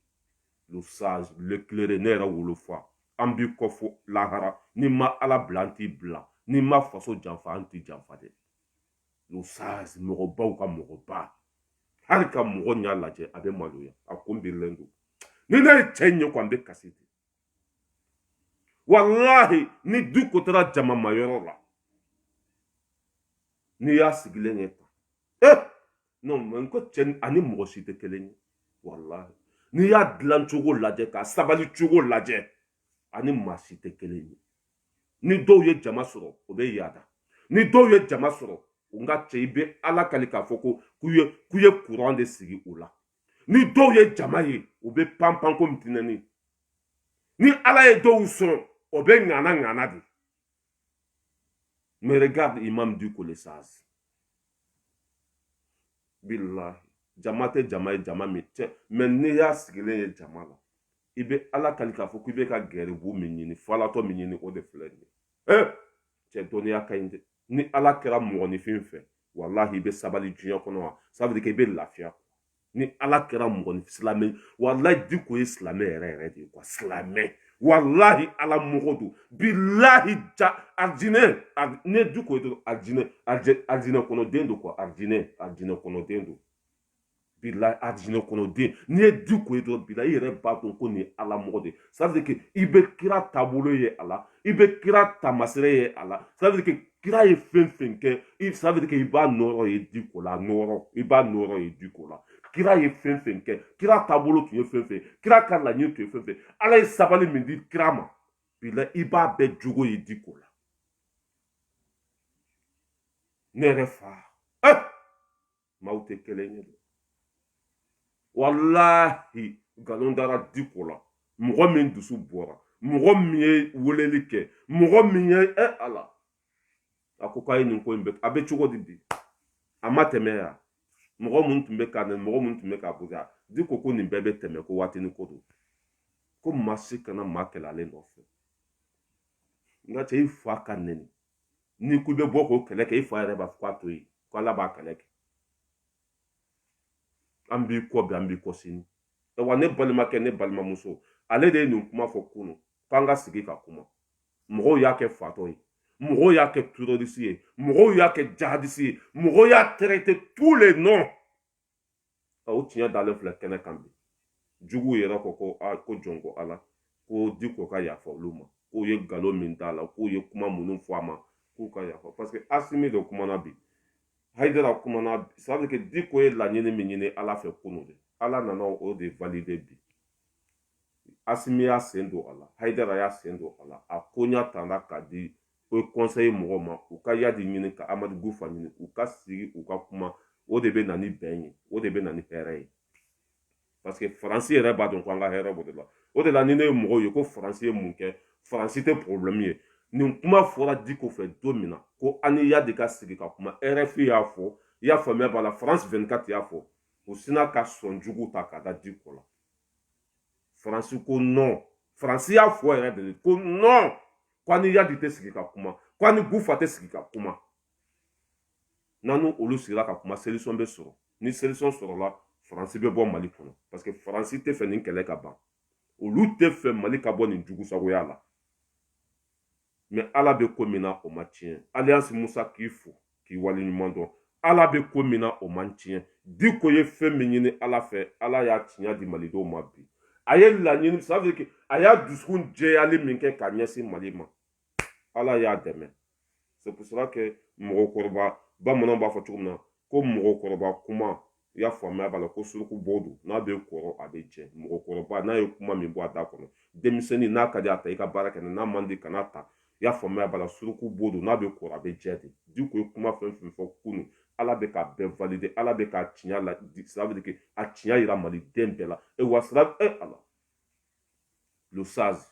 le sage l'éclairé ne yɛrɛ wolo fa an b'i kɔ fo lahara n'i ma ala bila an t'i bila n'i ma faso janfa an t'i janfa dɛ le sage mɔgɔbaw ka mɔgɔba hali ka mɔgɔ ɲa lajɛ a bɛ maloya a kun birilen don ni ne ye cɛ in ye ko an bɛ kasi de walahi ni diko taara jamama yɔrɔ la n'i y'a sigilen ye tan ee eh! non mais ko cɛ ani mɔgɔ si tɛ kelen ye walahi n'i y'a dilan cogo lajɛ k'a sabali cogo lajɛ ani maa si tɛ kelen ye ni dɔw ye jama sɔrɔ o bɛ yaada ni dɔw ye jama sɔrɔ n ka cɛ i bɛ ala kali k'a fɔ ko k'u ye k'u ye kuran de sigi u la ni dɔw ye jama ye u bɛ panpan komi tinɛni ni ala ye dɔw sɔn o bɛ ŋana ŋana de mais regarde imam diko le sage billahi jama tɛ jama ye jama min tɛ mais n'i y'a sigilen ye jama la i bɛ ala kali k'a fɔ k'i bɛ ka garibu min ɲini falatɔ min ɲini o de filɛ nin ye ee cɛ dɔnniya ka ɲi dɛ ni ala kɛra mɔgɔninfin fɛ walahi i bɛ sabali diɲɛ kɔnɔ wa sabali kɛ i bɛ lafiya ni ala kɛra mɔgɔninfin silamɛ walahi diko ye silamɛ yɛrɛ yɛrɛ de ye quoi silamɛ walahi ala mɔgɔ don bilahi ja arijinɛ n'i ye diko ye dɔrɔn arijinɛ arijinɛ kɔnɔden don quoi arijinɛ arijinɛ kɔnɔden don bilahi arijinɛ kɔnɔden n'i ye diko ye dɔrɔn bilahi i yɛrɛ b'a dɔn ko nin ye ala mɔgɔ de ye c'est-à-dire que i bɛ kira taabolo ye a la i bɛ kira taamasere ye a la c'est-à-dire que kira ye fɛn fɛn kɛ i c'est-à-dire que i b'a nɔrɔ ye diko la nɔrɔ i b'a nɔrɔ ye diko la kira ye fɛn fɛn kɛ kira taabolo tun ye fɛn fɛn kira ka laɲini tun ye fɛn fɛn ala ye sabali min di kira ma bilahi i b'a bɛɛ jogo ye diko la ne yɛrɛ fa eh! maaw tɛ kelen ye dɛ walahi nkalon dara diko la mɔgɔ min dusu bɔra mɔgɔ min ye weleli kɛ mɔgɔ min ye ɛ eh, ala a ko k'a ye nin ko in bɛ a bɛ cogo di bi a ma tɛmɛ yan mɔgɔ minnu tun bɛ ka nɛni mɔgɔ minnu tun bɛ k'a bonya diko ko nin bɛɛ bɛ tɛmɛ ko waati ni ko don ko maa si kana maa kɛlɛ ale nɔfɛ nka cɛ i fa ka nɛni n'i ko i bɛ bɔ k'o kɛlɛ kɛ i fa yɛrɛ b'a fɔ k'a to yen ko ala b'a kɛlɛ kɛ an b'i kɔ bi an b'i kɔ sini wa ne balimakɛ ne balimamuso ale de ye nin kuma fɔ kunu k'an ka sigi ka kuma mɔgɔw y'a kɛ fatɔ ye mɔgɔw y'a kɛ terrorisi ye mɔgɔw y'a kɛ jahadisi ye mɔgɔw y'a traité tous les noms o tiɲɛ dalen filɛ kɛnɛ kan bi juguw yɛrɛ ko ko a ko jɔn ko ala ko diko ka yafa olu ma k'u ye nkalon min d'a la k'u ye kuma minnu fɔ a ma k'u ka yafa parce que asimi de kumana bi hayidara kumana c'est que diko ye laɲini min ɲini ala fɛ kunu de ala nana o de valide bi asimi y'a sen don a la hayidara y'a sen don a la a koɲa tara ka di haut conseil mɔgɔw ma u ka yadi ɲini ka amadu gufa ɲini u ka sigi u ka kuma o de bɛ na ni bɛn ye o de bɛ na ni hɛrɛ ye parce que faransi yɛrɛ b'a dɔn ko an ka hɛrɛ b'o de la o de la ni ne ye mɔgɔw ye ko faransi ye mun kɛ faransi tɛ problɛmu ye nin kuma fɔra diko fɛ don min na ko an ni yadi ka sigi ka kuma rfi y'a fɔ i y'a faamuya b'a la faransi 24 y'a fɔ u sina ka sɔn jugu ta ka da diko la faransi ko non faransi y'a fɔ yɛrɛ de ko non ko an ni yadi tɛ sigi ka kuma ko an ni gufa tɛ sigi ka kuma n'an n'olu sigira ka kuma solution bɛ sɔrɔ ni solution sɔrɔla faransi bɛ bɔ mali kɔnɔ parce que faransi tɛ fɛ nin kɛlɛ ka ban olu tɛ fɛ mali ka bɔ nin jugusagoya la mɛ ala bɛ ko min na o ma tiɲɛ aliyansi musa k'i fo k'i wale ɲuman dɔn ala bɛ ko min na o ma tiɲɛ diko ye fɛn min ɲini ala fɛ ala y'a tiɲɛ di malidenw ma bi a ye laɲini sadike a y'a dusukun jɛyali min kɛ ka ɲɛsin mali ma ala y'a dɛmɛ c'est pour cela que mɔgɔkɔrɔba bamananw b'a fɔ cogo min na ko mɔgɔkɔrɔba kuma i y'a faamuya b'a la ko suruku bo don n'a bɛ kɔrɔ a bɛ jɛ mɔgɔkɔrɔba n'a ye kuma min bɔ a da kɔnɔ denmisɛnnin n'a ka di a ta i ka baara kɛ n'a man di kan'a ta i y'a faamuya b'a la suruku bo don n'a bɛ kɔrɔ a bɛ jɛ de diko ye kuma fɛn fɛn fɔ kunu ala bɛ k'a bɛɛ valide ala bɛ k'a tiɲɛ la sira bɛ a tiɲɛ yira maliden bɛɛ la e wa sira e ala le sage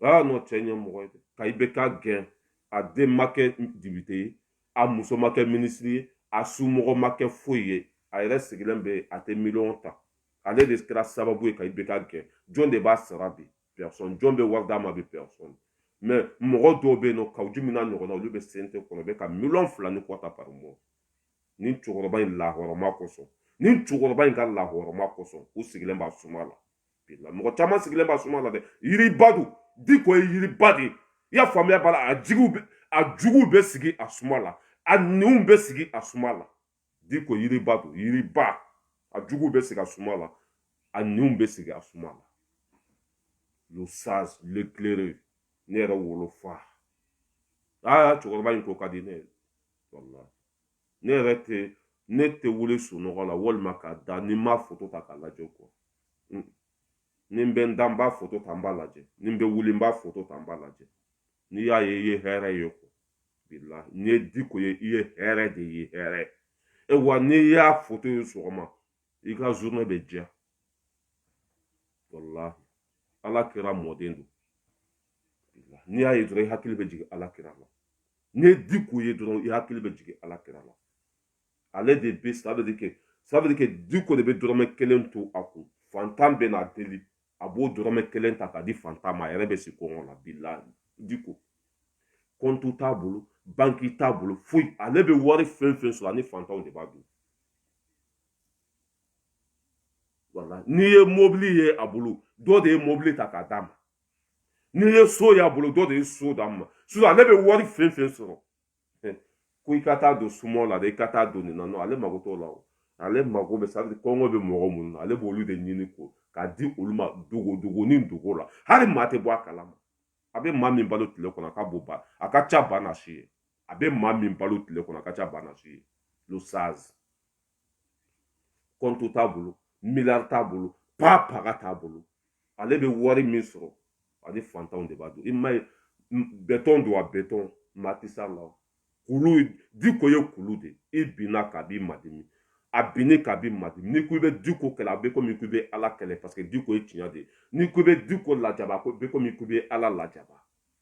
aa nɔ cɛ ɲɛmɔgɔ ye ka ibk gɛn a den ma kɛ depite ye a muso ma kɛ minisiri ye a somɔgɔ ma kɛ foyi ye a yɛrɛ sigilen bɛ a tɛ miliyɔn ta ale de kɛra sababu ye ka ibk gɛn jɔn de b'a sara bi personne jɔn bɛ wari d'a ma bi personne mɛ mɔgɔ dɔw bɛ yen nɔ kawu jim n'a ɲɔgɔnna olu bɛ cnt kɔnɔ bɛ ka miliyɔn fila ni kɔ ta par mois nin cɛkɔrɔba in lahɔrɔma kosɔn nin cɛkɔrɔba in ka lahɔrɔma kosɔn u sigilen b'a suma la bilahi mɔgɔ caman sigilen b'a suma la dɛ yiriba don diko ye yiriba de ye i y'a faamuya b'a la a jigiw bɛ a juguw bɛ sigi a suma la a ɲinw bɛ sigi a suma la diko yiriba don yiriba a juguw bɛ sigi a suma la a ɲinw bɛ sigi a suma la le sage l'éclairé ne yɛrɛ wolofa aa cɛkɔrɔba in ko ka di ne ye ne yɛrɛ tɛ ne tɛ wuli sunɔgɔ la walima ka da ni n m'a foto ta k'a lajɛ kɔ ni n bɛ n da n b'a foto ta n b'a lajɛ ni n bɛ wuli n b'a foto ta n b'a lajɛ n'i y'a ye i ye hɛrɛ ye kɔ bilahi n'i ye diko ye i ye hɛrɛ de ye hɛrɛ awa n'i y'a foto ye sɔgɔma i ka journée bɛ diya walahi ala kira mɔden don n'i y'a ye dɔrɔn i hakili bɛ jigin ala kira la n'i ye diko ye dɔrɔn i hakili bɛ jigin ala kira la ale de bɛ sabali kɛ sabali kɛ diko de bɛ dɔrɔmɛ kelen to a kun fantan bɛ n'a deli a b'o dɔrɔmɛ kelen ta k'a di fantan ma a yɛrɛ bɛ si kɔngɔ la bilahi diko kɔntu t'a bolo banki t'a bolo foyi ale bɛ wari fɛn fɛn sɔrɔ ani fantanw de b'a dun wala n'i ye mobili ye a bolo dɔ de ye mobili ta k'a d'a ma n'i ye so y'a bolo dɔ de ye so d'a ma sisan ale bɛ wari fɛn fɛn sɔrɔ ko i ka taa don sumaw la dɛ i ka taa don nin na nɔ ale mago t'o la o ale mago bɛ sadi kɔngɔ bɛ mɔgɔ minnu na ale b'olu de ɲini ko k'a di olu ma dogo dogo ni dogo la hali maa tɛ bɔ a kala ma a bɛ maa min balo tile kɔnɔ a ka bon ba a ka ca ba na si ye a bɛ maa min balo tile kɔnɔ a ka ca ba na si ye le sage kɔntu t'a bolo miliyari t'a bolo paa paga t'a bolo ale bɛ wari min sɔrɔ ani fantanw de b'a dun i m'a ye bɛtɔn don wa bɛtɔn matisa la kulu diko ye kulu de i binn'a kan a b'i madimi a binn'i kan a b'i madimi n'i ko i bɛ diko kɛlɛ a bɛ komi k'i bɛ ala kɛlɛ paseke diko ye tiɲɛ de ye n'i ko i bɛ diko lajaba a bɛ komi k'i bɛ ala lajaba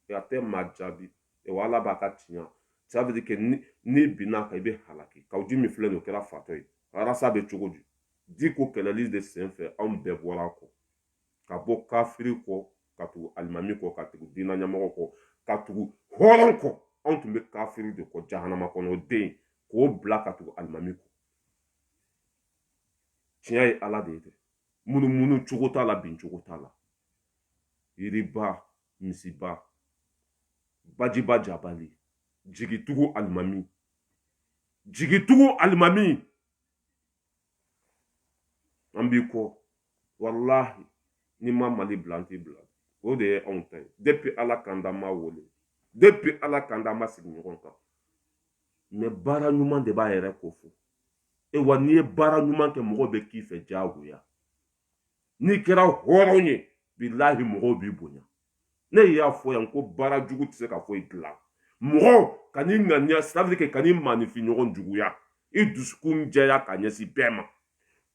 e a tɛ maa jaabi e wa ala b'a ka tiɲɛ ça veut dire que n'i binn'a kan i bɛ halaki kawu jimu filɛ nin o kɛra fatɔ ye arasi bɛ cogo di diko kɛlɛli de sen fɛ anw bɛɛ bɔra a kɔ ka bɔ kafiri kɔ ka tugu alimami kɔ ka tugu diinɛ ɲɛmɔgɔ kɔ ka tugu hɔrɔn kɔ anw tun bɛ kafiri de kɔ jahanama kɔnɔ o den k'o bila ka tugu alimami kɔ tiɲɛ ye ala de ye dɛ munumunu cogo t'a la bin cogo t'a la yiriba misiba bajiba jabali jigitugu alimami jigitugu alimami an b'i kɔ walahi n'i ma mali bila an t'i bila o de ye anw ta ye depi ala k'an da ma wele depi ala k'an da ma sigi ɲɔgɔn kan mɛ baara ɲuman de b'a yɛrɛ ko fɔ awa n'i ye baara ɲuman kɛ mɔgɔ bɛ k'i fɛ diyagoya n'i kɛra hɔrɔn ye bilahi mɔgɔw b'i bonya ne y'a fɔ yan ko baara jugu tɛ se ka foyi dilan mɔgɔ ka n'i ŋaniya sabali kɛ kan'i maaninfin ɲɔgɔn juguya i dusukun jɛya ka ɲɛsin bɛɛ ma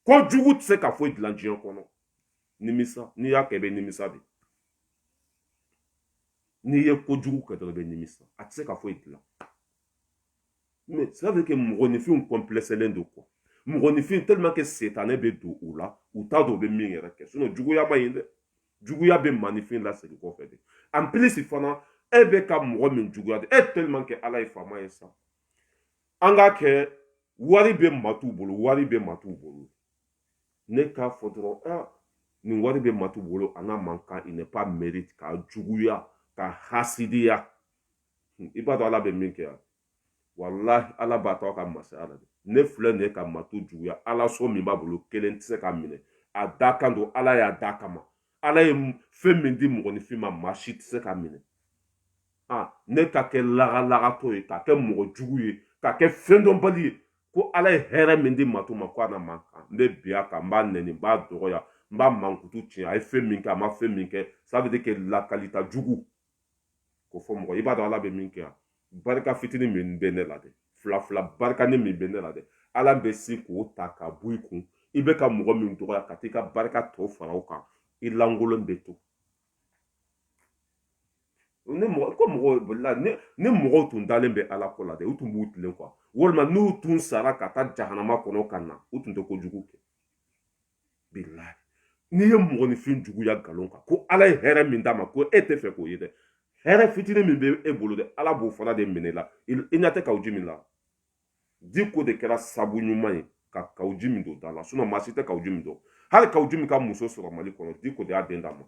ko jugu tɛ se ka foyi dilan diɲɛ kɔnɔ nimisa n'i y'a kɛ i bɛ nimisa de n'i ye ko jugu kɛ dɔrɔn i bɛ nimisa a tɛ se ka foyi dilan mais cela veut que mɔgɔninfinw kɔnplɛsɛlen don quoi mɔgɔninfin tellement que setanɛ bɛ don u la u t'a dɔn u bɛ min yɛrɛ kɛ sinon juguya ma ɲi dɛ juguya bɛ maaninfin lasegin kɔfɛ de en plus fana e bɛ ka mɔgɔ min juguya de e tellement que ala ye faama ye sa an k'a kɛ wari bɛ mato bolo wari bɛ mato bolo ne k'a fɔ dɔrɔn ah nin wari bɛ mato bolo a n'a man kan il n'a pas mérité ka juguya ka hasidiya i b'a dɔn ala bɛ min kɛ yan walahi ala b'a to a ka masaya la dɛ ne filɛ nin ye ka mato juguya hali so min b'a bolo kelen tɛ se k'a minɛ a dakan don ala y'a dakan a ma ala ye fɛn min di mɔgɔninfin ma maa si tɛ se k'a minɛ ne ka kɛ lagalagatɔ ye ka kɛ mɔgɔ jugu ye ka kɛ fɛn dɔnbali ye ko ala ye hɛrɛ min di mato ma ko a n'a man kan n bɛ bin a kan n b'a nɛni n b'a dɔgɔya n b'a mankutu tiɲɛ a ye fɛn min kɛ a ma fɛn min kɛ ça veut dire que lakalita jugu ko fɔ mɔgɔ i b'a dɔn ala bɛ min kɛ yan barika fitini min bɛ ne la dɛ fila fila barikanin min bɛ ne la dɛ ala bɛ se k'o ta ka bɔ i kun i bɛ ka mɔgɔ min dɔgɔya ka t'i ka barika tɔ fara o kan i lankolon bɛ to ni mɔgɔ ko mɔgɔw la ni ni mɔgɔw tun dalen bɛ ala ko la dɛ u tun b'u tilen kuwa walima n'u tun sara ka taa jahanama kɔnɔ ka na u tun tɛ kojugu kɛ n'i ye mɔgɔninfin juguya nkalon kan ko ala ye hɛrɛ min d'a ma ko e tɛ fɛ k'o ye dɛ hɛrɛ fitinin min bɛ e bolo dɛ ala b'o fana de minɛ e la i ɲɛ tɛ kawu jimi la diko de kɛra sabu ɲuman ye ka kawu jimi don da la sinɔn maa si tɛ kawu jimi dɔn hali kawu jimi ka muso sɔrɔ mali kɔnɔ diko de y'a den d'a ma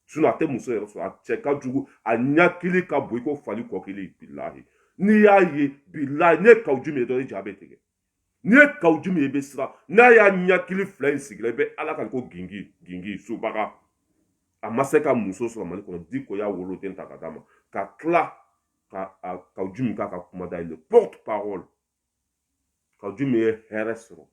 sinɔn a tɛ muso yɛrɛ sɔrɔ a cɛ ka jugu a ɲɛkili ka bon i ko fali kɔkili bilahi n'i y'a ye bilahi n'i ye kawu jimi ye dɔrɔn i ja bɛ tigɛ n'i ye kawu jimi ye i bɛ siran n'a y'a ɲɛkili fila in sigi i la i bɛ ala kali ko gingin gingin subaga a ma se ka muso sɔrɔ mali kɔnɔ diko y'a woloden ta ka d'a ma ka tila ka kawu jimi k'a ka kumada ye le porte parole kawu jimi ye hɛrɛ sɔrɔ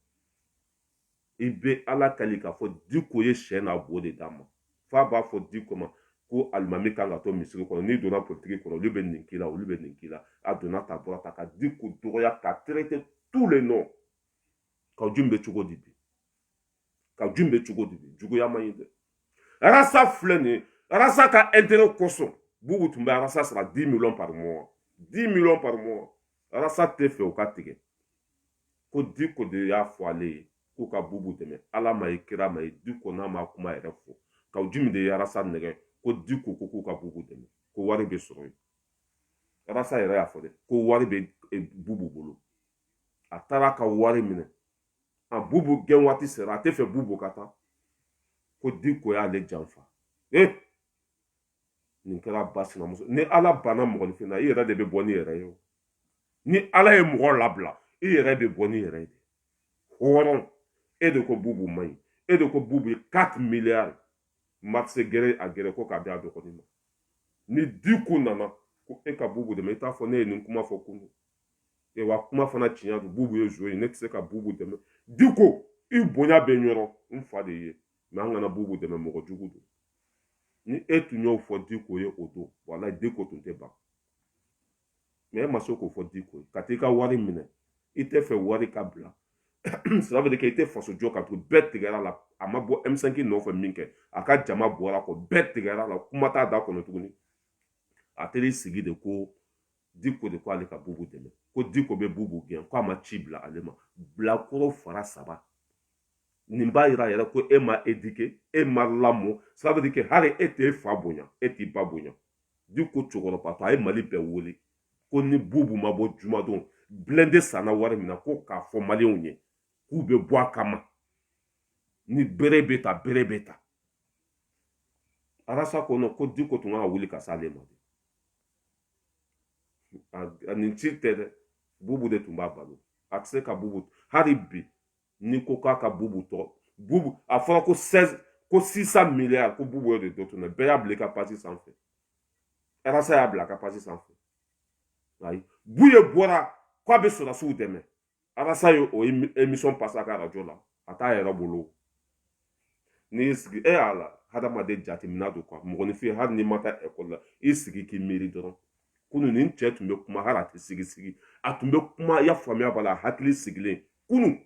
i bɛ ala kali k'a fɔ diko ye sɛ n'a bo de d'a ma f'a b'a fɔ diko ma ko alimami kan ka to misiri kɔnɔ n'i donna politiki kɔnɔ olu bɛ nin k'i la olu bɛ nin k'i la a donna ta bɔra ta ka diko dɔgɔya k'a traiter tous les noms kawu jimi bɛ cogo di bi kawu jimi bɛ cogo di bi juguya man ɲi dɛ arasa filɛ nin ye arasa ka intérêt kosɔn bubu tun bɛ arasa sara 10 millions par mois 10 millions par mois arasa tɛ fɛ o ka tigɛ ko diko de y'a fɔ ale ye k'u ka bubu dɛmɛ ala m'a ye kira m'a ye diko n'a ma kuma yɛrɛ fɔ kawu jimi de ye arasa nɛgɛn ko diko ko k'u ka bubu dɛmɛ ko wari bɛ sɔrɔ yen arasa yɛrɛ y'a fɔ dɛ ko wari bɛ e, bubu bolo a taara ka wari minɛ a bubu gɛn waati sera a tɛ fɛ bubu ka taa ko diko y'ale janfa ee nin kɛra ba sinamuso ni ala banna mɔgɔninfin na i yɛrɛ de bɛ bɔ n'i yɛrɛ ye o ni ala ye mɔgɔ labila i yɛrɛ bɛ bɔ n'i yɛrɛ ye hɔrɔn e de ko bubu man ɲi e de ko bubu ye 4 miliyari marché gré à gré ko k'a di a dɔgɔnin ma ni diko nana ko e ka bubu dɛmɛ i t'a fɔ ne ye nin kuma fɔ kunun e wa kuma fana tiɲɛ don bubu ye zon ye ne tɛ se ka bubu dɛmɛ diko i bonya bɛ n yɔrɔ n fa de ye mɛ an kana bubu dɛmɛ mɔgɔ jugu don ni e tun y'o fɔ diko ye o don walayi diko tun tɛ ban mɛ e ma se k'o fɔ diko ye ka t'i ka wari minɛ i tɛ fɛ wari ka bila sira bɛ kɛ i tɛ faso jɔ ka to bɛɛ tigɛra la a ma bɔ m5 nɔfɛ minkɛ a ka jama bɔra a kɔ bɛɛ tigɛra a la kuma t'a da kɔnɔ tuguni a teri sigi de ko diko de ko ale ka bubu dɛmɛ ko diko bɛ bubu gɛn ko a ma ci bila ale ma bilakoro fara saba nin b'a yira yɛrɛ ko e ma edike e ma lamɔ sabu ke hali e tɛ e fa bonya e t'i ba bonya diko cɛkɔrɔbatɔ a ye mali bɛɛ wele ko ni bubu ma bɔ jumadon blende sanna wari min na ko k'a fɔ maliyɛnw ye k'u bɛ bɔ a kama ni bere bɛ ta bere bɛ ta arasa ko diko tun ka wuli ka s'ale ma a nin si tɛ dɛ bubu de tun b'a balo a tɛ se ka bubu hali bi ni ko k'a ka bubu tɔgɔ bubu a fɔra ko seize ko six cent miliyari ko bubu de dɔ tun na bɛɛ y'a bila i ka pasi sanfɛ arasa y'a bila a ka pasi sanfɛ ayi buye bɔra k'a bɛ sɔrɔdasiw dɛmɛ arasa ye o emisɔn pase a ka arajo la a t'a yɛrɛ bolo n'i y'i sigi e y'a la hadamaden jateminɛ don kuwa mɔgɔninfin hali n'i ma taa ekɔli la i sigi k'i miiri dɔrɔn kunu nin cɛ tun bɛ kuma hali a tɛ sigi sigi a tun bɛ kuma i y'a faamuya b'a la a hakili sigilen kunu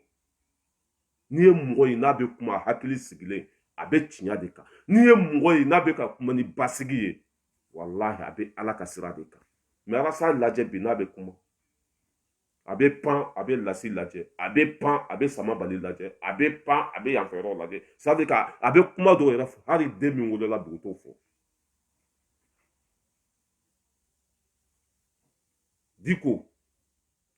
n'i ye mɔgɔ ye n'a bɛ kuma a hakili sigilen a bɛ tiɲɛ de kan n'i ye mɔgɔ ye n'a bɛ ka kuma ni basigi ye walahi a bɛ ala ka sira de kan mɛ arasa lajɛ bi n'a bɛ kuma a bɛ pan a bɛ lasi lajɛ a bɛ pan a bɛ sama bali lajɛ a bɛ pan a bɛ yanfɛ yɔrɔ lajɛ c'est-à-dire k'a bɛ kuma dɔw yɛrɛ fɔ hali den min wolola dugu t'o fɔ diko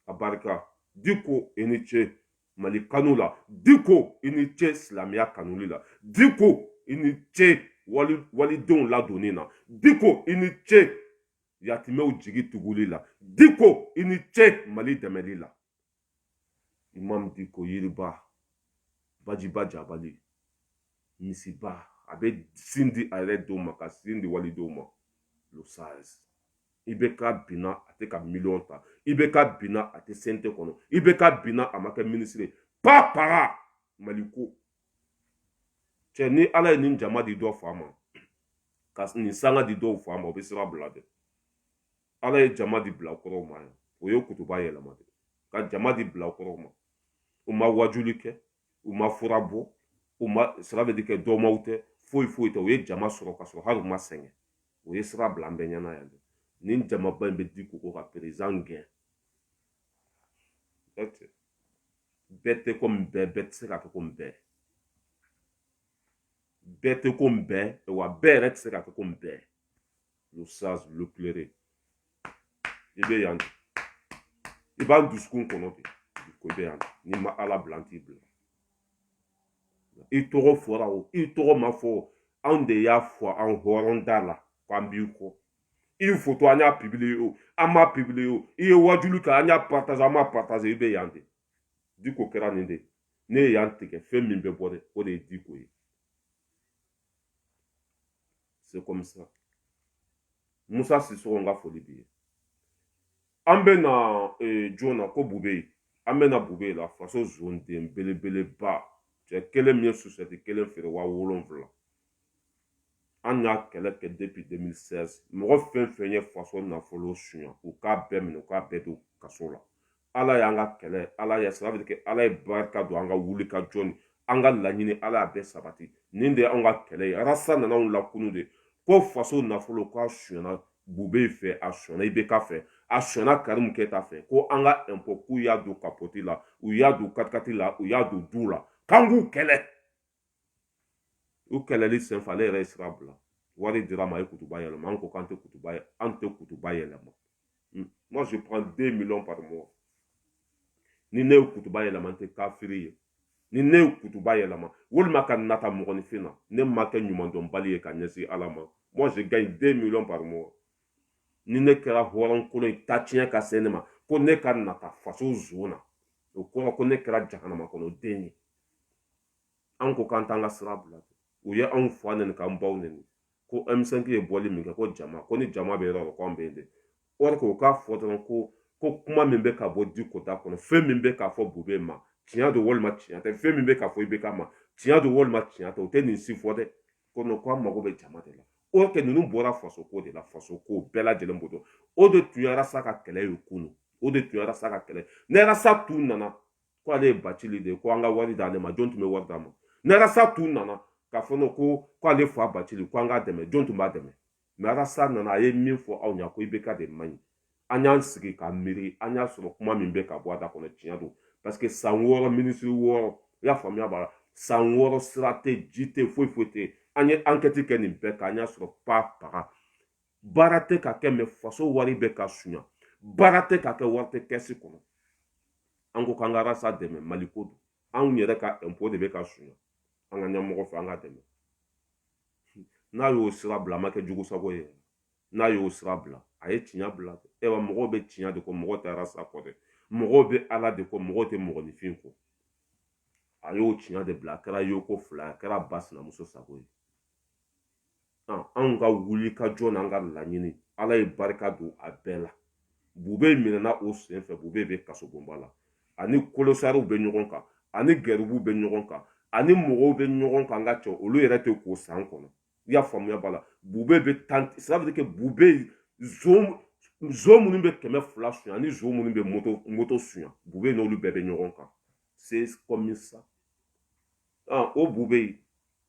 a barika diko i ni ce mali kanu la diko i ni ce silamɛya kanuli la diko i ni ce wali walidenw ladonni na diko i ni ce yatimɛw jigi tuguli la diko i ni ce mali dɛmɛli la imam diko yiriba bajiba jabali misiba a bɛ sin di a yɛrɛ denw ma ka sin di walidenw ma le sage i bɛ ka binna a tɛ ka miliyɔn ta i bɛ ka binna a tɛ CNT kɔnɔ i bɛ ka binna a ma kɛ minisiri pa para mali ko cɛ ni ala ye nin jama di dɔ fa ma ka nin sanga di dɔw fa ma o bɛ sira bila dɛ ala ye jama di bilakorow ma yan o ye kutuba yɛlɛma de ka jama di bilakorow ma u ma wajuli kɛ u ma fura bɔ u ma sira bɛ di kɛ dɔmaw tɛ foyi foyi tɛ u ye jama sɔrɔ ka sɔrɔ hali u ma sɛgɛn u ye sira bila an bɛɛ ɲɛna yan dɛ nin jamaba in bɛ diko ka perezidan gɛn bɛɛ tɛ komi bɛɛ bɛɛ tɛ se ka kɛ komi bɛɛ bɛɛ tɛ komi bɛɛ wa bɛɛ yɛrɛ tɛ se ka kɛ komi bɛɛ le sage l'éclairé i bɛ yan i b'an dusukun kɔnɔ diko i bɛ yan n'i ma ala bila an t'i bila i tɔgɔ fɔra o i tɔgɔ ma fɔ anw de y'a fɔ an hɔrɔn da la k'an b'i kɔ i ye foto an y'a publie o an m'a publie o i ye wajuli kɛ an y'a partage an m'a partage i bɛ yan de diko kɛra nin de ne ye yan tigɛ fɛn min bɛ bɔ de o de ye diko ye c'est comme ça musa sisɔgɔ n ka foli b'i ye an bɛ na eh, jɔn na ko bubeyi an bɛ na bubeyi la faso zonden belebeleba cɛ kelen min ye susɛti kelen feere waa wolonfila an y'a kɛlɛ kɛ depuis 2016 mɔgɔ fɛn fɛn ye faso nafolo suɲa u k'a bɛɛ minɛ u k'a bɛɛ don kaso la ala y'an ka kɛlɛ ala ya sira kɛ ala ye barika don an ka wulikajɔ ni an ka laɲini ala y'a bɛɛ sabati nin de ye anw ka kɛlɛ ye arasa nana anw lakunu de ko faso nafolo k'a suɲana bubeyi fɛ a suɲana ibk fɛ a suɲana karimu keyita fɛ ko an ka ɛnpɔ k'u y'a don kapɔti la u y'a don katikati la u y'a don duw la k'an k'u kɛlɛ u kɛlɛli senfɛ ale yɛrɛ ye sira bila wari dir'a ma a ye kutuba yɛlɛma an ko k'an tɛ kutuba an tɛ kutuba yɛlɛma hmm. moi je prends 2 millions par mois ni ne ye kutuba yɛlɛma n tɛ kafiri ye ni ne ye kutuba yɛlɛma walima ka nata mɔgɔninfin na ne ma kɛ ɲumandɔnbali ye ka ɲɛsin ala ma moi je gagne 2 millions par mois ni ne kɛra hɔrɔnkolon ye tatiɲɛ ka se ne ma ko ne ka nata faso zon na o kɔrɔ ko ne kɛra jahanama kɔnɔ den ye an ko k'an t'an ka sira bila u ye anw fa neni k'an baw neni ko m5 ye bɔli min kɛ ko jama ko ni jama bɛ yɔrɔ la ko an bɛ yen de or que u k'a fɔ dɔrɔn ko ko kuma min bɛ ka bɔ diko da kɔnɔ fɛn min bɛ ka fɔ bubeyi ma tiɲɛ don walima tiɲɛ tɛ fɛn min bɛ ka fɔ ibk ma tiɲɛ don walima tiɲɛ tɛ u tɛ nin si fɔ dɛ ko non ko an mago bɛ jama de la oke ninnu bɔra faso ko de la faso ko bɛɛ lajɛlen b'o dɔn o de tun ye arasa ka kɛlɛ ye kunu o de tun ye arasa ka kɛlɛ ni arasa tun nana ko ale ye bacili de ye ko an ka wari d'ale ma jɔn tun bɛ wari d'a ma n'arasa tun nana k'a fɔ nɔ ko ko ale fa bacili ko an k'a dɛmɛ jɔn tun b'a dɛmɛ mɛ arasa nana a ye min fɔ aw ɲa ko ibk de man ɲi an y'an sigi ka miiri an y'a sɔrɔ kuma min bɛ ka bɔ a da kɔnɔ tiɲɛ don parce que san wɔɔrɔ minisiri wɔɔrɔ i y'a faamuya b'a la san wɔɔrɔ sira tɛ ji tɛ foyi foyi tɛ an ye ankɛti kɛ nin bɛɛ kan an y'a sɔrɔ pa paga baara tɛ ka kɛ mɛ faso wari bɛ ka sunya baara tɛ ka kɛ wari tɛ kɛsi kɔnɔ an ko k'an ka arasa dɛmɛ mali ko don anw yɛrɛ ka ɛnpo de bɛ ka sunya an ka ɲɛmɔgɔ fɛ an k'a dɛmɛ n'a y'o sira bila a ma kɛ jugu sago ye n'a y'o sira bila a ye tiɲɛ bila ayiwa mɔgɔw bɛ tiɲɛ de kɔ mɔgɔ tɛ arasa kɔ dɛ mɔgɔw bɛ ala de kɔ mɔgɔw tɛ mɔgɔninfin kɔ a y'o tiɲɛ de bila a kɛra yoko fila a kɛra ba sinamuso sago ye anw ka wuli ka jɔ n'an ka laɲini ala ye barika don a bɛɛ la bube minɛna o sen fɛ bube bɛ kasobonba la ani kolosariw bɛ ɲɔgɔn kan ani gɛribuw bɛ ɲɔgɔn kan ani mɔgɔw bɛ ɲɔgɔn kan n ka cɛ olu yɛrɛ tɛ ko san kɔnɔ i y'a faamuya b'a la bube bɛ tan sirabiri kɛ bube zon zon minnu bɛ kɛmɛ fila suɲɛ ani zon minnu bɛ moto moto suɲɛ bube n'olu bɛɛ bɛ ɲɔgɔn kan c'est comme ça o bube yen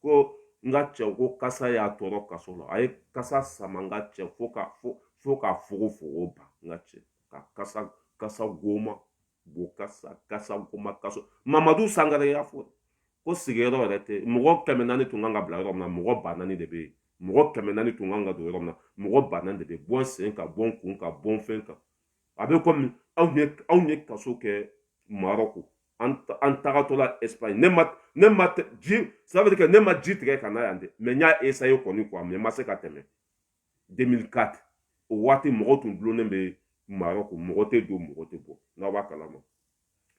ko n ka cɛ ko kasa y'a tɔɔrɔ kaso la a ye kasa sama n ka cɛ fo ka fo fo ka fogofogo ba n ka cɛ ka kasa kasa goma bo kasa kasa goma kaso mamadu sangare y'a fɔ ko sigiyɔrɔ yɛrɛ tɛ mɔgɔ kɛmɛ naani tun kan ka bila yɔrɔ min na mɔgɔ ba naani de bɛ yen mɔgɔ kɛmɛ naani tun kan ka don yɔrɔ min na mɔgɔ ba naani de bɛ yen bɔn sen kan bɔn kun kan bɔn fɛn kan a bɛ kɔmi anw ye anw ye kaso kɛ marɔku an tagatɔla espagne ne ma ne ma ji ça veut dire que ne ma ji tigɛ ka na yan dɛ mais n y'a essaye kɔni quoi mais n ma se ka tɛmɛ 2004 o waati mɔgɔ tun dulonnen bɛ marɔku mɔgɔ tɛ don mɔgɔ tɛ bɔ n'aw b'a kalama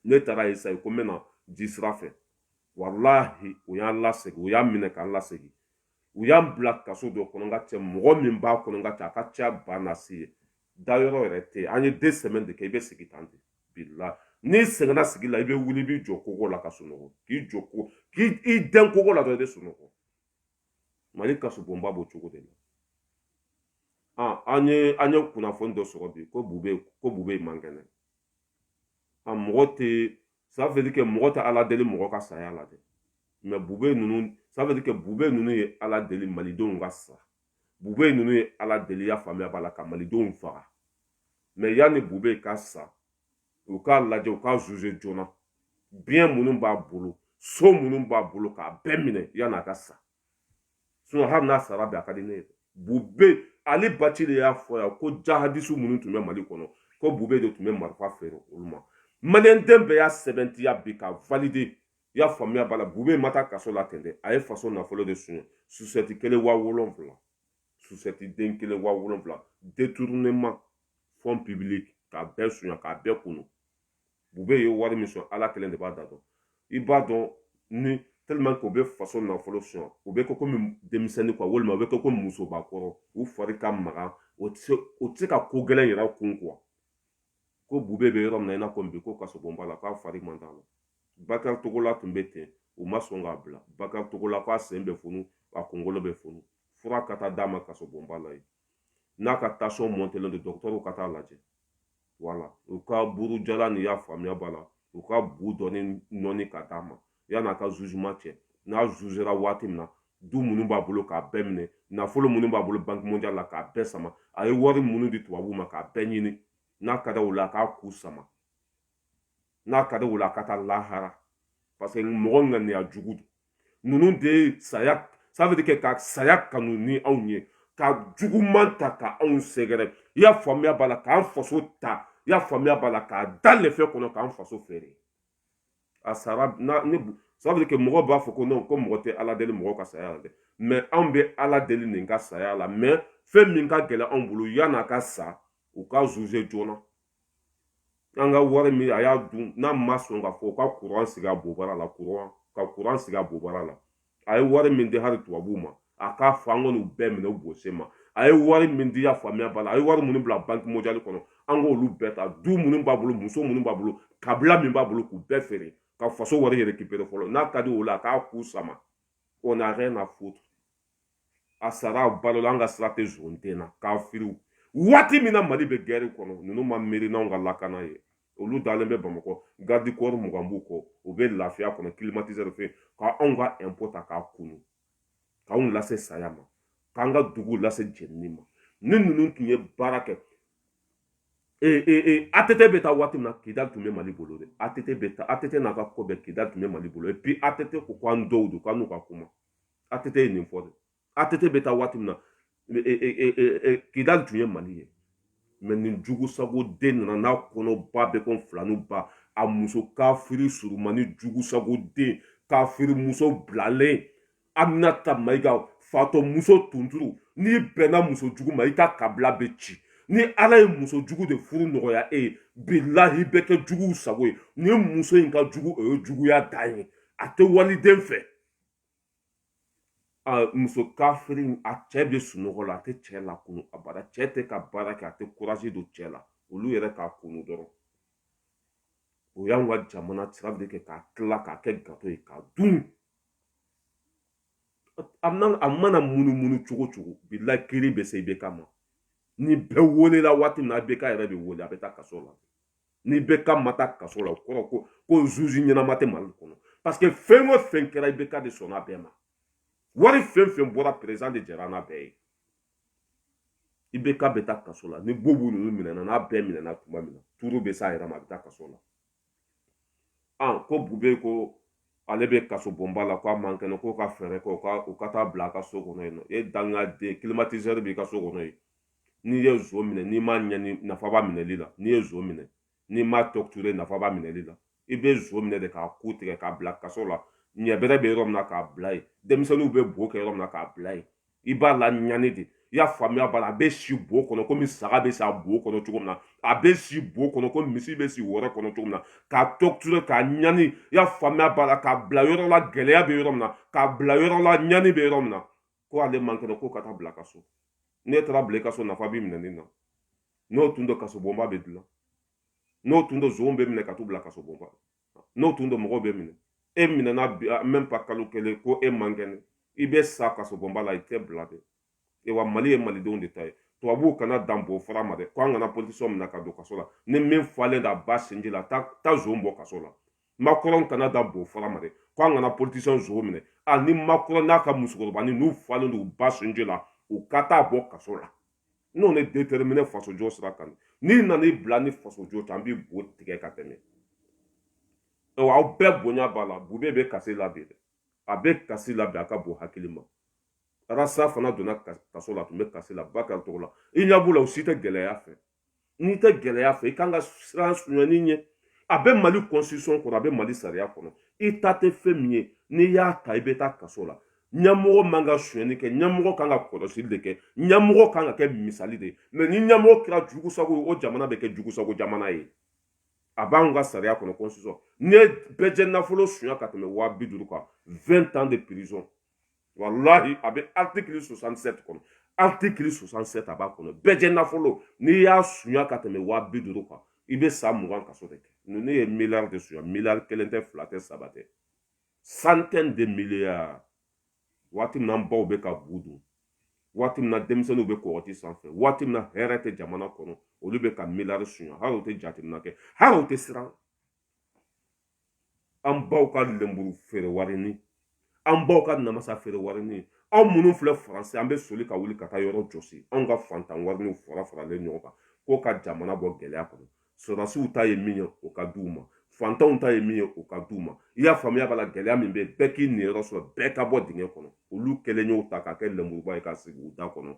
ne taara essaye ko n bɛna ji sira fɛ walahi u y'an lasegin u y'an minɛ k'an lasegin u y'an bila kaso dɔ kɔnɔ n ka cɛ mɔgɔ min b'a kɔnɔ n ka cɛ a ka ca ba na se ye dayɔrɔ yɛrɛ tɛ yen an ye deux semaines de kɛ i bɛ sigi tan dibi la n'i sɛgɛnna sigi la i bɛ wuli i b'i jɔ kogo la ka sunɔgɔ k'i jɔ ko k'i dɛn kogo la dɔrɔn i bɛ sunɔgɔ mali kasobonba b'o cogo de la ah, an ye an ye kunnafoni dɔ sɔrɔ bi ko bube ko bube man kɛnɛ a ah, mɔgɔ tɛ ça veut dire que mɔgɔ tɛ ala deli mɔgɔ ka saya la dɛ mais bube ninnu ça veut dire que bube ninnu ye ala deli malidenw ka sa bube ninnu ye ala deli i y'a faamuya b'a la ka malidenw faga mais yanni bube ka sa u k'a lajɛ u k'a zuze joona biens minnu b'a bolo so minnu b'a bolo k'a bɛɛ minɛ yanni a ka sa sinon hali n'a sara bi a ka di ne ye bube ali bacili y'a fɔ yan ko jahadisu minnu tun bɛ mali kɔnɔ ko bube de tun bɛ marifa feere olu ma maliyɛnden bɛɛ y'a sɛbɛntiya bi ka valide i y'a faamuya b'a la bube ma taa kaso la ten dɛ a ye faso nafolo de suɲɛ susɛti kelen waa wolonfila susɛti den kelen waa wolonfila détournement fond public k'a bɛɛ suɲɛ k'a bɛɛ kunu bube ye wari min suɲɛ ala kelen de b'a da dɔn i b'a dɔn ni tellement que u bɛ faso nafolo suɲɛ u bɛ kɛ komi denmisɛnnin quoi walima u bɛ kɛ komi musobakɔrɔ u fari ka magan o tɛ se ka ko gɛlɛn yɛrɛ kun quoi ko bube bɛ yɔrɔ min na i n'a fɔ bi ko kasobonba la k'a fari man d'a la bakari togola tun bɛ ten u ma sɔn k'a bila bakari togola k'a sen bɛ funu a kunkolo bɛ funu fura ka taa d'a ma kasobonba la yen a ka tansiyɔn mɔntelen don dɔgɔtɔrɔw ka taa a lajɛ wala u ka buru jalan i y'a faamuya b'a la u ka bu dɔɔni nɔɔni ka d'a ma yan'a ka zuzeman kɛ n'a zuzera waati min na du minnu b'a bolo k'a bɛɛ minɛ nafolo minnu b'a bolo banki mondial la k'a bɛɛ sama a ye wari minnu di tubabuw ma k'a bɛɛ ɲini n'a ka di o la a k'a ku sama n'a ka di o la a ka taa lahara parce que mɔgɔ ŋaniya jugu don ninnu de ye saya ça veut dire que ka saya kanu ni anw ye ka juguman ta ka anw sɛgɛrɛ i y'a faamuya voilà k'an faso ta i y'a faamuya voilà k'a da lɛfɛ kɔnɔ k'an faso feere a sara na ne ça veut dire que mɔgɔ b'a fɔ ko non ko mɔgɔ tɛ ala deli mɔgɔ ka saya la dɛ mais anw bɛ ala deli nin ka saya la mais fɛn min ka gɛlɛn anw bolo yan'a ka sa u k'a zuze joona an ka wari min a y'a dun n'a ma sɔn k'a fɔ u ka kuran sigi a bobara la kuran ka kuran sigi a bobara la a ye wari min di hali tubabuw ma a k'a fɔ an kɔni bɛɛ minɛ u bose ma a ye wari min di i y'a faamuya voilà a ye wari minnu bila banki mondial kɔnɔ an k'olu bɛɛ ta du minnu b'a bolo muso minnu b'a bolo kabila min b'a bolo k'u bɛɛ feere ka faso wari récupérer fɔlɔ n'a ka di o la a k'a ku sama on n'a rien à foutre a sara balola an ka sira tɛ zon den na kafiri waati min na mali bɛ gɛri kɔnɔ ninnu ma miiri n'anw ka lakana ye olu dalen bɛ bamakɔ garidi kɔri mugan b'u kɔ u bɛ lafiya kɔnɔ kilimatizɛri fɛ ka anw ka ɛnpo ta k'a kunu k'anw lase saya ma k'an ka dugu lase jenini ma ni ninnu tun ye baara kɛ ee ee ee att bɛ taa waati min na kidali tun bɛ mali bolo dɛ att bɛ taa att n'a ka ko bɛɛ kidali tun bɛ mali bolo epi att ko k'an dɔgɔw don k'an n'u ka kuma att ye nin fɔ dɛ atete bɛ taa waati min na kidali tun ye mali ye mais nin jugu sago den nana n'a kɔnɔba b'i ko filaninba a muso kafiri surunmannin jugu sago den kafiri muso bilalen aminata mayiga fatɔ muso tunturu n'i bɛnna muso jugu ma i ka kabila bɛ ci ni ala ye muso jugu de furu nɔgɔya e ye bilahi i bɛ kɛ juguw sago ye ni muso in ka jugu o ye juguya dan ye a tɛ waliden fɛ muso kafiri a cɛ bɛ sunɔgɔ la a tɛ cɛ lakunun a bara cɛ tɛ ka baara kɛ a tɛ kurazi don cɛ la olu yɛrɛ k'a kunu dɔrɔn o y'an ka jamana sira de kɛ k'a tila k'a kɛ gato ye k'a dun a mana munumunu cogo o cogo bilahi kiri bɛ se ibk ma ni bɛɛ welela waati min na ibk yɛrɛ bɛ wele a bɛ taa kaso la ni ibk ma taa kaso la o kɔrɔ ko ko zuzi ɲɛnama tɛ mali kɔnɔ parce que fɛn o fɛn kɛra ibk de sɔnna a bɛɛ ma wari fɛn o fɛn bɔra perezidan de jɛnna n'a bɛɛ ye ibk bɛ taa kaso la ni bubu ninnu minɛna n'a bɛɛ minɛna tuma min na tuuru bɛ s'a yɛrɛ ma a bɛ taa kaso la an ko bubɛyi ko ale bɛ kaso bonba la k'a man kɛnɛ k'u ka fɛɛrɛ kɛ u ka u ka taa bila a ka so kɔnɔ yen non e danga den climatiseur b'i ka so kɔnɔ yen n'i ye zon minɛ n'i m'a ɲani nafa b'a minɛli la n'i ye zon minɛ n'i m'a torturer nafa b'a minɛli la i bɛ zon minɛ de k'a ku tigɛ k'a bila kaso la ɲɛbɛrɛ bɛ yɔrɔ min na k'a bila yen denmisɛnninw bɛ bo kɛ yɔrɔ min na k'a bila yen i b'a laɲani de i y'a faamuya b'a la a bɛ si bo kɔnɔ komi saga bɛ si a bo kɔnɔ cogo min na a bɛ si bo kɔnɔ komi misi bɛ si wɔrɛ kɔnɔ cogo min na k'a torturer k'a ɲani i y'a faamuya b'a la k'a bila yɔrɔ la gɛlɛya bɛ yɔrɔ min na k'a bila yɔrɔ la ɲani bɛ yɔrɔ min na ko ale man kɛnɛ ko ka taa bila ka so n'e taara bila i ka so nafa b'i minɛni na n'o tun don kasobonba bɛ dilan n'o tun don zonw bɛ minɛ ka t'u bila kasobonba n'o tun don mɔgɔw bɛ minɛ e minɛna bi même pas kalo kelen ko e man kɛnɛ i bɛ sa kasobonba la i tɛ bila dɛ e wa mali ye malidenw de ta ye tubabuw kana dan bo fara ma dɛ ko an kana politisiyɛn minɛ ka don kaso la ni min falen d'a ba sinji la taa zon bɔ kaso la makɔrɔn kana da bo fara ma dɛ ko an kana politisiyɛn zon minɛ a ni makɔrɔn n'a ka musokɔrɔba ni n'u falen don u ba sinji la u ka taa bɔ kaso la on est déterminé fasojɔ sira kan n'i nana i bila an ni fasojɔ cɛ an b'i bo tigɛ ka tɛmɛ awa aw bɛɛ bonya b'a la bubɛyi bɛ kasi la bi dɛ a bɛ kasi la bi a ka bon hakili ma arasi fana donna kaso la a tun bɛ kasi la bakari togola i ɲɛ b'u la u si tɛ gɛlɛya fɛ n'i tɛ gɛlɛya fɛ i kan ka siran sunyani ɲɛ a bɛ mali constitution kɔnɔ a bɛ mali sariya kɔnɔ i ta tɛ fɛn min ye n'i y'a ta i bɛ taa kaso la ɲɛmɔgɔ man ka sonyani kɛ ɲɛmɔgɔ kan ka kɔlɔsili de kɛ ɲɛmɔgɔ kan ka kɛ misali de ye mɛ ni ɲɛmɔgɔ kɛra jugusago ye o jamana bɛ kɛ jugusago jamana ye a b'anw ka sariya kɔnɔ constitution n'i ye bɛɛ jɛ nafolo sunya ka tɛmɛ waa bi duuru kan 20 ans de prison walahi a bɛ artikili 67 kɔnɔ artikili 67 a b'a kɔnɔ bɛɛ jɛ nafolo n'i y'a sunya ka tɛmɛ waa bi duuru kan i bɛ san mugan kaso de kɛ ninnu ye miliyari de sunya miliyari kelen tɛ fila tɛ saba tɛ centaine de milliards waati min na baw bɛ ka bu dun waati min na denmisɛnninw bɛ kɔgɔji sanfɛ waati min na hɛrɛ tɛ jamana kɔnɔ olu bɛ ka miliyari sunya hali u tɛ jateminɛ kɛ hali u tɛ siran an baw ka lenburu feere warinin an baw ka namasa feere warinin anw minnu filɛ faransi an bɛ soli ka wuli ka taa yɔrɔ jɔsi anw ka fantan warininw farafaralen ɲɔgɔn kan k'o ka jamana bɔ gɛlɛya kɔnɔ sɔrɔdasiw ta ye min ye o ka di u ma fantanw ta ye min ye o ka di u ma i y'a faamuya b'a la gɛlɛya min bɛ yen bɛɛ k'i niyɔrɔ sɔrɔ bɛɛ ka bɔ dingɛ kɔnɔ olu kɛlen y'o ta k'a kɛ lenburuba ye ka sigi u da kɔnɔ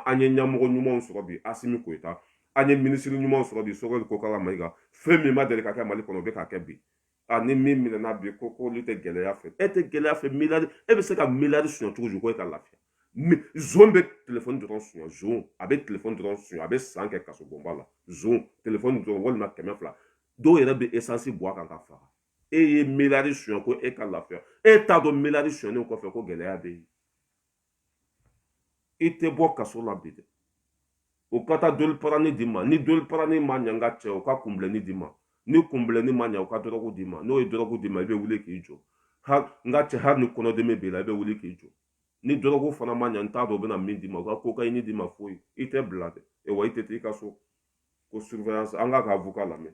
an ye ɲɛmɔgɔ ɲumanw sɔrɔ bi asimi goyita an ye minisiri ɲuman sɔrɔ bi sogɛli kokala mayiga fɛn min ma deli ka kɛ mali kɔnɔ o bɛ ka kɛ bi ani min minɛna bi ko k'olu tɛ gɛlɛya fɛ e tɛ gɛlɛya fɛ miliyari e bɛ se ka miliyari suɲɛ cogo di ko e ka lafiya zon bɛ telefɔni dɔrɔn suɲɛ zon a bɛ telefɔni dɔrɔn suɲɛ a bɛ san kɛ kasobonba la zon telefɔni dɔrɔn walima kɛmɛ fila dɔw yɛrɛ bɛ esansi bɔn a kan k'a faga e ye miliyari suɲɛ ko e ka lafiya e t'a dɔn miliyari suɲɛnen kɔfɛ ko gɛlɛya bɛ yen i tɛ bɔ kaso la bi dɛ o ka taa doliprane d'i ma ni doliprane ma ɲa n ka cɛ o ka kunbilenni d'i ma ni kunbilenni ma ɲa o ka dɔrɔgu d'i ma n'o ye dɔrɔgu d'i ma i bɛ wuli k'i jɔ n ka cɛ hali ni kɔnɔdimi b'i la i bɛ wuli k'i jɔ ni dɔrɔgu fana ma ɲa n t'a dɔn u bɛna min d'i ma u ka kokayini d'i ma foyi i tɛ bila dɛ e wa i tɛ taa i ka so ko surveillance an k'a ka avocat lamɛn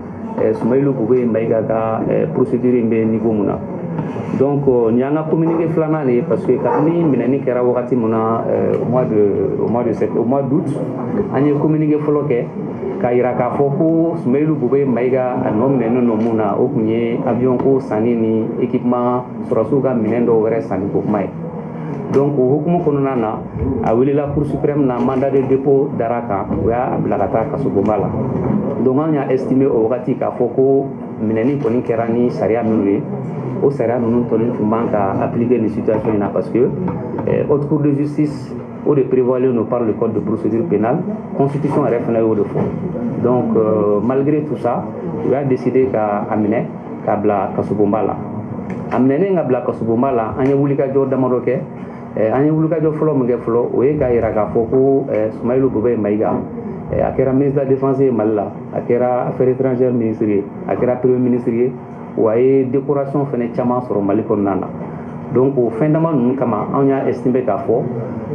sumayilu bubɛyi mayiga ka procédure in bɛ niveau mun na donc nin y'an ka communiqué filanan de ye parce que kabini minɛni kɛra wagati mun na au mois de au mois de sept au mois d'août an ye communiqué fɔlɔ kɛ k'a yira k'a fɔ ko sumayilu bubɛyi mayiga a nɔminɛnen don mun na o tun ye avion ko sanni ni équipement sɔrɔdasiw ka minɛn dɔw wɛrɛ sanni ko kuma ye donc o hukumu kɔnɔna na a welela cour suprême na mandat de dépôt dara a kan o y'a bila ka taa kasobonba la donc an y'a estime o wagati k'a fɔ ko minɛni kɔni kɛra ni sariya minnu ye o sariya ninnu kɔni tun man ka appliquer nin situation in na parce que eh, haute cour de justice o de prévoilen don par le code de procédure pénale constitution yɛrɛ fana y'o de fɔ donc euh, malgré tout ça u y'a décidé ka a minɛ ka bila kasobonba la a minɛnen ka bila kasobonba la an ye wulikajɔ damadɔ kɛ an ye wulikajɔ fɔlɔ min kɛ fɔlɔ o ye k'a yira k'a fɔ ko sumayilu bubɛyi mayiga a kɛra ministre de la défense ye mali la a kɛra affaires étrangères ministre ye a kɛra premier ministre ye wa a ye décoration fɛnɛ caman sɔrɔ mali kɔnɔna na donc o fɛn dama ninnu kama anw y'a estime k'a fɔ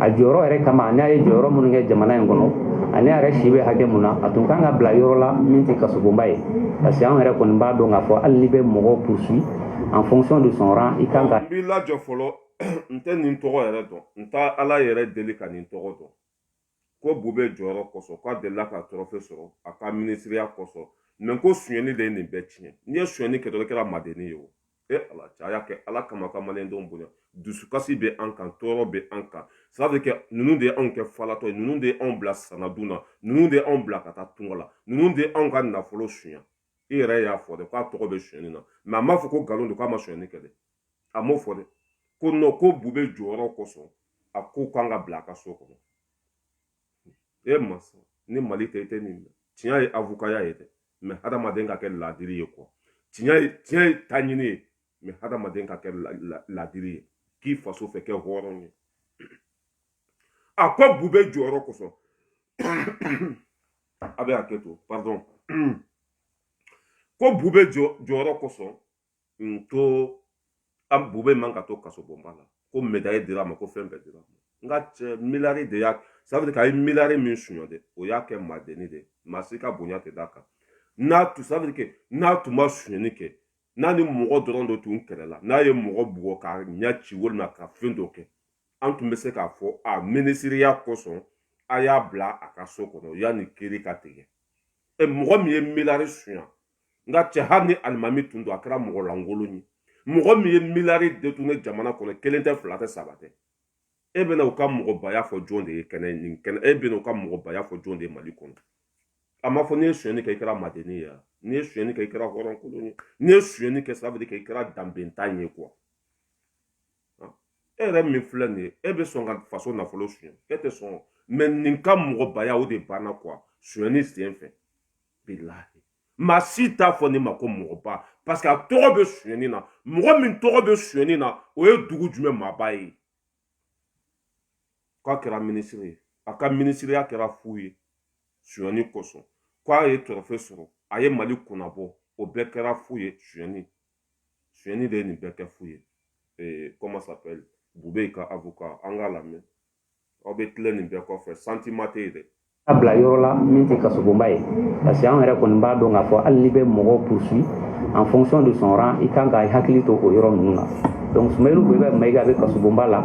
a jɔyɔrɔ yɛrɛ kama n'a ye jɔyɔrɔ minnu kɛ jamana in kɔnɔ ani a yɛrɛ si bɛ hakɛ mun na a tun ka kan ka bila yɔrɔ la min tɛ kasobonba ye parce que anw yɛrɛ kɔni b'a dɔn k'a fɔ hali n'i bɛ mɔgɔw poursuit en fonction de son rang i kan ka. n b'i lajɔ fɔlɔ n tɛ nin tɔgɔ yɛrɛ dɔn n tɛ ala yɛrɛ deli ka nin tɔgɔ dɔn ko bubɛyi jɔyɔrɔ kosɔn k'a delila ka tɔrɔfe sɔrɔ a ka minisiriya kosɔn mais ko sonyɛni de ye nin bɛɛ tiɲɛ n'i ye sonyɛni kɛ dɔrɔn i kɛra maadennin ye o e ala cɛ a y'a kɛ ala kama ka maliyɛndenw bonya dusukasi bɛ an kan tɔɔrɔ bɛ an kan sabu kɛ ninnu de ye anw kɛ falatɔ ye ninnu de ye anw bila sanadun na ninnu de ye anw bila ka taa tunga la ninnu de ye anw ka nafolo sunya i yɛrɛ y'a fɔ dɛ k'a tɔgɔ bɛ sonyani na mais a m'a fɔ ko nkalon don k'a ma sonyani kɛ dɛ a m'o fɔ dɛ ko non ko bubɛyi jɔyɔrɔ kosɔn a ko a ka kan ka bila a ka so kɔnɔ e masa ni mali tɛ i tɛ nin tiɲɛ ye avokaya ye dɛ mais hadamaden ka kɛ laadiri ye quoi tiɲɛ ye tiɲɛ ye taɲini ye mais hadamaden ka kɛ laadiri ye k'i faso fɛ kɛ hɔrɔn ye a ko bubɛyi jɔyɔrɔ kosɔn a bɛ hakɛ to pardon ko bubɛyi jɔyɔrɔ kosɔn n to an bubɛyi man ka to kasobonba la ko medayi dira a ma ko fɛn bɛɛ dira a ma n ka cɛ miliyari de y'a sabiri ka ye miliyari min sonya dɛ o y'a kɛ maadenni de ye maa si ka bonya tɛ d'a kan n'a tun sabiri kɛ n'a tun ma sonyɛni kɛ n'a ni mɔgɔ dɔrɔn dɔ tun kɛlɛla n'a ye mɔgɔ bugɔ k'a ɲɛ ci walima ka fɛn dɔ kɛ an tun bɛ se k'a fɔ a minisiriya kosɔn a y'a bila a ka so kɔnɔ yanni kiri ka tigɛ e mɔgɔ min ye milari sunya n ka cɛ hali ni alimami tun don a kɛra mɔgɔ lankolon ye mɔgɔ min ye milari détourné jamana kɔnɔ kelen tɛ fila tɛ saba tɛ e bɛna u ka mɔgɔbaya fɔ jɔn de ye kɛnɛ nin kan e bɛna u ka mɔgɔbaya fɔ jɔn de ye mali kɔnɔ a ma fɔ n'i ye sonyɛni kɛ i kɛra madennin ye n'i ye sonyɛni kɛ i kɛra hɔrɔnkolon ye n'i ye sonyɛni kɛ sira bɛ kɛ i kɛra danbentan ye quoi e yɛrɛ min filɛ nin ye e bɛ sɔn ka faso nafolo suɲɛ e tɛ sɔn mais nin ka mɔgɔbaya o de banna quoi sonyɛni sen fɛ bilahi maa si t'a fɔ ne ma ko mɔgɔba parce que a tɔgɔ bɛ sonyɛni na mɔgɔ min tɔgɔ bɛ sonyɛni na o ye dugu jumɛn maaba ye k'a kɛra minisiri ye a ka minisiriya kɛra fu ye sonyani kosɔn k'a ye trophée sɔrɔ a ye mali kunnabɔ o bɛɛ kɛra fu ye sonyani sonyani de ye nin bɛɛ kɛ fu ye comment s'appelle bubɛyi ka avocat an k'a lamɛn aw bɛ tilen nin bɛɛ kɔfɛ sentiment tɛ yen dɛ A bila yɔrɔ la min tɛ kasobonba ye parce que an yɛrɛ kɔni b'a dɔn k'a fɔ hali n'i bɛ mɔgɔw poursuit en fonction de son rang i kan ka i hakili to o yɔrɔ ninnu na donc Sumayilu Bubɛyi Mayiga bɛ kasobonba la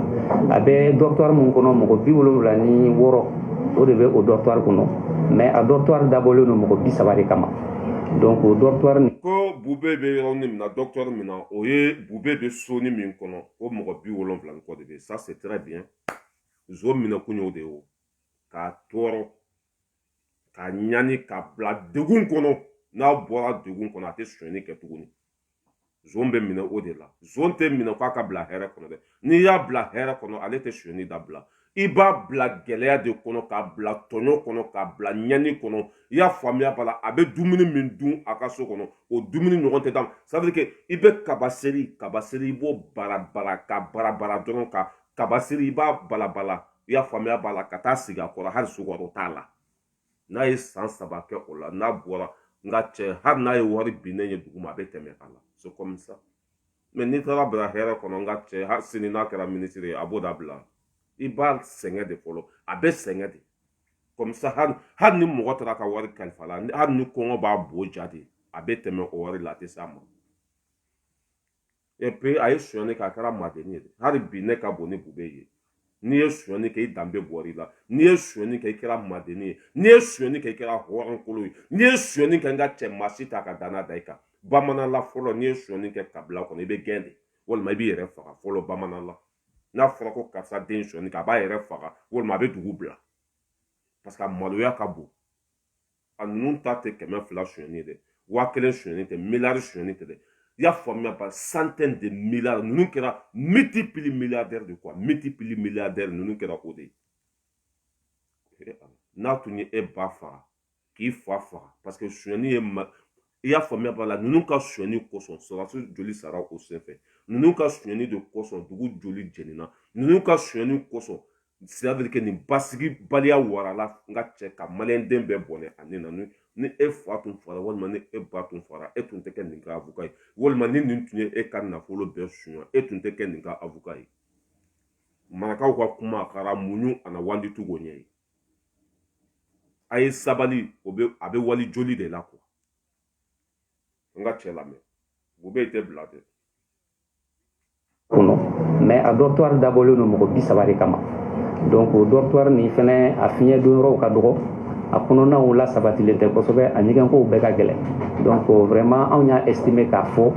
a bɛ dortoir min kɔnɔ mɔgɔ bi wolonwula ni wɔɔrɔ o de bɛ o dortoir kɔnɔ mais a dortoir dabɔlen don mɔgɔ bi saba de kama donc o dortoir nin ko Bubɛyi bɛ yɔrɔ min na dortoir min na o ye Bubɛyi bɛ soni min kɔnɔ o mɔgɔ bi wolonwula ni kɔ de bɛ ça c'est très bien zon minɛkun y'o de ye o k'a tɔɔrɔ k'a ɲani k'a bila degun kɔnɔ n'a bɔra degun kɔnɔ a tɛ sonyani kɛ tuguni zon bɛ minɛ o de la zon tɛ minɛ k'a ka bila hɛrɛ kɔnɔ dɛ n'i y'a bila hɛrɛ kɔnɔ ale tɛ sonyani dabila i b'a bila gɛlɛya de kɔnɔ k'a bila tɔɲɔ kɔnɔ k'a bila ɲani kɔnɔ i y'a faamuya b'a la a bɛ dumuni min dun a ka so kɔnɔ o dumuni ɲɔgɔn tɛ d'a ma c'est-à-dire que i bɛ kaba seri kaba seri i b'o bara bara ka bara bara dɔrɔn ka kaba seri i b'a balabala i y'a faamuya b'a la ka taa sigi a kɔrɔ hali sukaro t'a la n'a ye san saba kɛ o la n'a bɔra n ka cɛ hali n'a ye wari binnen ye duguma a bɛ tɛmɛ a la c'est comme ça mais n'i taara bila hɛrɛ kɔnɔ n ka cɛ hali sini n'a kɛra minisiri ye a t'o dabila i b'a sɛgɛn de fɔlɔ a bɛ sɛgɛn de comme ça hali hali ni mɔgɔ taara ka wari kalif'a la hali ni kɔngɔ b'a bo ja de a bɛ tɛmɛ o wari la a tɛ s'a ma et puis a ye sonyani kɛ a kɛra madeni ye hali bi ne ka bon ni bubɛyi ye n'i ye sonyani kɛ i danbe bɔr'i la n'i ye sonyani kɛ i kɛra madeni ye n'i ye sonyani kɛ i kɛra hɔrɔnkolo ye n'i ye sonyani kɛ n ka cɛ maa si t'a ka danna da i kan bamanan la fɔlɔ n'i ye sonyani kɛ kabila kɔnɔ i bɛ gɛn de walima i b'i yɛrɛ faga fɔlɔ bamanan la n'a fɔra ko karisa den sonyani kɛ a b'a yɛrɛ faga walima a bɛ dugu bila parce que a maloya ka bon a ninnu ta tɛ kɛmɛ fila sonyɛni ye dɛ waa kelen sonyɛni tɛ miliyari sonyɛni tɛ dɛ i y'a faamuya ba centaine de milliards ninnu kɛra multipli milliardaire de quoi multipli milliardaire ninnu kɛra o de ye n'a tun ye e ba faga k'i fa faga parce que sonyɛni ye ma i y'a faamuya b'a la ninnu ka sonyɛni kosɔn sɔrɔdasi joli sara o senfɛ ninnu ka sonyɛni de kosɔn dugu joli jɛnina ninnu ka sonyɛni kosɔn sira bɛ kɛ nin basigi baliya warala n ka cɛ ka maliyɛnden bɛɛ bɔnɛ a ni na ni ni e fa tun fagara walima ni e ba tun fagara e tun tɛ kɛ nin ka avocat ye walima ni nin tun ye e ka nafolo bɛɛ suɲa e tun tɛ kɛ nin ka avocat ye marakaw ka kuma a kɛra muɲu ana wandi tugo ɲɛ ye a ye sabali o bɛ a bɛ wali joli de la kuwa n ka cɛ lamɛn bubɛyi tɛ bila dɛ kɔnɔ mais a dɔrɔtwari dabɔlen don mɔgɔ bi saba de kama donc o dɔrɔtwari nin fɛnɛ a fiɲɛ don yɔrɔw ka dɔgɔ a kɔnɔnaw lasabatilen tɛ kosɛbɛ a ɲɛgɛnkow bɛɛ ka gɛlɛn donc vraiment anw y'a estime k'a fɔ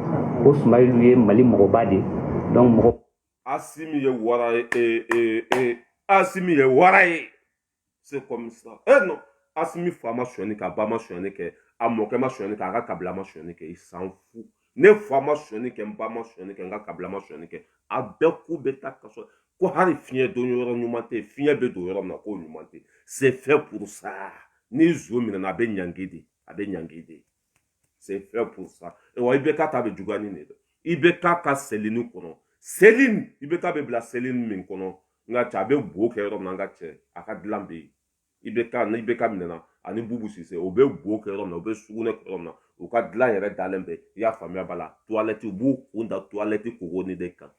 ko sumayilu ye mali mɔgɔba de donc mɔgɔ asimi ye wara ye ee ee ee asimi ye wara ye c'est comme ça e non asimi fa ma sonyani kɛ a ba ma sonyani kɛ a mɔkɛ ma sonyani kɛ a ka kabila ma sonyani kɛ il s'en fout ne fa ma sonyani kɛ n ba ma sonyani kɛ n ka kabila ma sonyani kɛ a bɛɛ k'u bɛ taa kaso ko hali fiɲɛ don yɔrɔ ɲuman tɛ fiɲɛ bɛ don yɔrɔ min na k'o ɲuman tɛ c'est fait pour ça ni zon minɛna a bɛ ɲangi de a bɛ ɲangi de c'est fait pour ça et wa ibk ta bɛ juguya ni nin ye ibk ka cellule kɔnɔ cellule ibk bɛ bila cellule min kɔnɔ n ka cɛ a bɛ bo kɛ yɔrɔ min na n ka cɛ a ka dilan bɛ yen ibk ni ibk minɛna ani bubu sise o bɛ bo kɛ yɔrɔ min na o bɛ sugunɛ kɛ yɔrɔ min na u ka dilan yɛrɛ dalen bɛ i y'a faamuya b'a la tuwalɛti u b'u kun da tuwalɛti kogoni de kan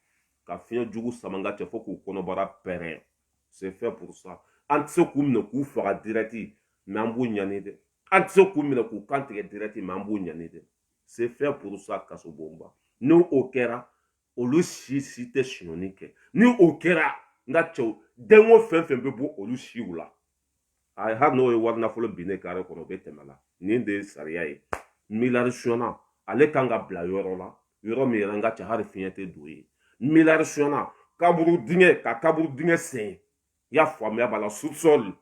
ka fiɲɛ jugu sama n ka cɛ fo k'u kɔnɔbara pɛrɛn c'est fait pour ça an tɛ se k'u minɛ k'u faga direct mais an b'u ɲani dɛ an tɛ se k'u minɛ k'u kan tigɛ direct mais an b'u ɲani dɛ c'est fait pour ça kaso bonba ni o kɛra olu si si tɛ sonyɛni kɛ ni o kɛra n ka cɛ u den wo fɛn fɛn bɛ bɔ olu siw la a hali n'o ye wari nafolo binnen kare kɔnɔ o bɛ tɛmɛ la nin de ye sariya ye miliyari sonyana ale kan ka bila yɔrɔ la yɔrɔ min yɛrɛ n ka cɛ hali fiɲɛ tɛ don yen miliyari sonyana kaburu dingɛ ka kaburu dingɛ sen i y'a faamuya b'a la sosɔli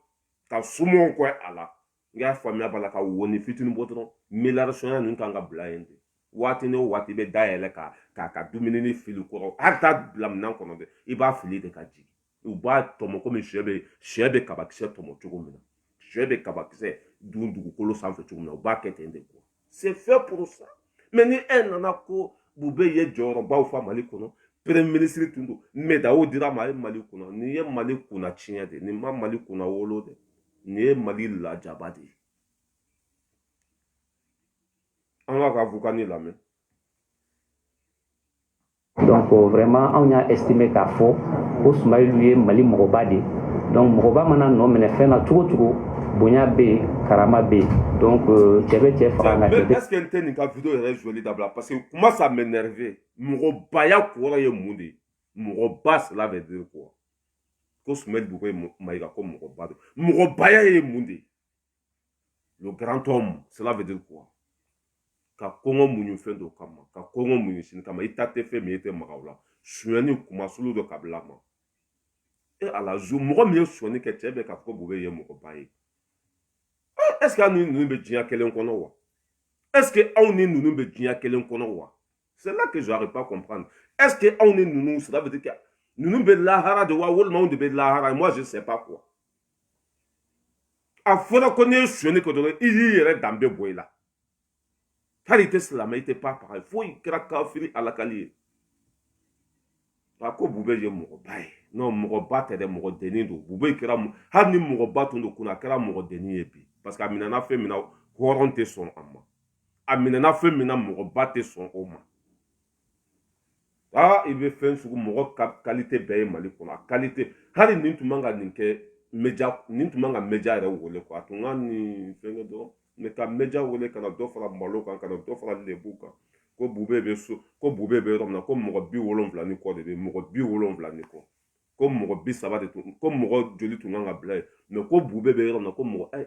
ka siman kɛ a la i y'a faamuya b'a la ka wonin fitinin bɔ dɔrɔn miliyari sonyana ninnu kan ka bila yen de waati ni waati bɛ dayɛlɛ ka k'a ka dumuni fili kɔrɔ hali t'a bila minɛn kɔnɔ dɛ i b'a fili de ka jigin u b'a tɔmɔ komi sɛ bɛ sɛ bɛ kabakisɛ tɔmɔ cogo min na sɛ bɛ kabakisɛ dun dugukolo sanfɛ cogo min na u b'a kɛ ten de quoi c'est fait pour ça mais ni e nana ko bube ye jɔyɔrɔbaw fa mali kɔnɔ premier ministre tun don médaille dira a ma ye mali kunna nin ye mali kunna tiɲɛ de nin ma mali kunnawolo dɛ nin ye mali lajaba de ye an k'a ka vocal nin lamɛn donc vraiment anw y'a estime k'a fɔ ko sumayilu ye mali mɔgɔba de ye donc mɔgɔba mana nɔminɛ fɛn na cogo cogo bonya bɛ yen karama bɛ yen donc euh, cɛ bɛ cɛ faga nka cɛ tɛ. est-ce que n tɛ nin ka video yɛrɛ joli dabila parce que kuma ça m'énerve mɔgɔbaya kɔrɔ ye mun de ye mɔgɔba cela veut dire quoi ko sumayilu bube mayiga ko mɔgɔba don mɔgɔbaya ye mun de ye. le grand homme cela veut dire quoi ka kɔngɔ muɲu fɛn dɔ kama ka kɔngɔ muɲu sini kama i ta tɛ fɛn min i tɛ maga o la sonyani kumasulu dɔ kabila ma e ala zu mɔgɔ min ye sonyani kɛ cɛ bɛ k'a fɔ bube ye mɔgɔba ye est ce que aw ni ninnu bɛ diɲɛ kelen kɔnɔ wa est ce que aw ni ninnu bɛ diɲɛ kelen kɔnɔ wa c'est là que je n'arrive pas à comprendre est ce que aw ni ninnu cela veut dire que ninnu bɛ lahara de wa walima anw de bɛ lahara moi je sais pas quoi a fɔra ko n'i ye sonyɛni kɛ dɔrɔn i y'i yɛrɛ danbe bɔ i la hali i tɛ silamɛ i tɛ pa paga fo i kɛra kafiri alakali ye a ko bube ye mɔgɔba ye non mɔgɔba tɛ dɛ mɔgɔ denni don bube kɛra hali ni mɔgɔba tun don kunun a kɛra mɔgɔ denni ye bi parce que a minɛna fɛn min na hɔrɔn tɛ sɔn a ma a minɛna fɛn min na mɔgɔba tɛ sɔn o ma aa i bɛ fɛn sugu mɔgɔ ka kalite bɛɛ ye mali kɔnɔ a kalite hali nin tun man ka nin kɛ média nin tun man ka média yɛrɛ wele quoi a tun ka nin fɛnkɛ dɔrɔn mais ka média wele ka na dɔ fara malo kan ka na dɔ fara lebu kan ko bube bɛ so ko bube bɛ yɔrɔ min na ko mɔgɔ bi wolonwula ni kɔ de bɛ mɔgɔ bi wolonwula ni kɔ ko mɔgɔ bi saba de tun ko mɔgɔ joli tun kan ka bila yen mais ko bube bɛ yɔrɔ min na ko mɔgɔ ayi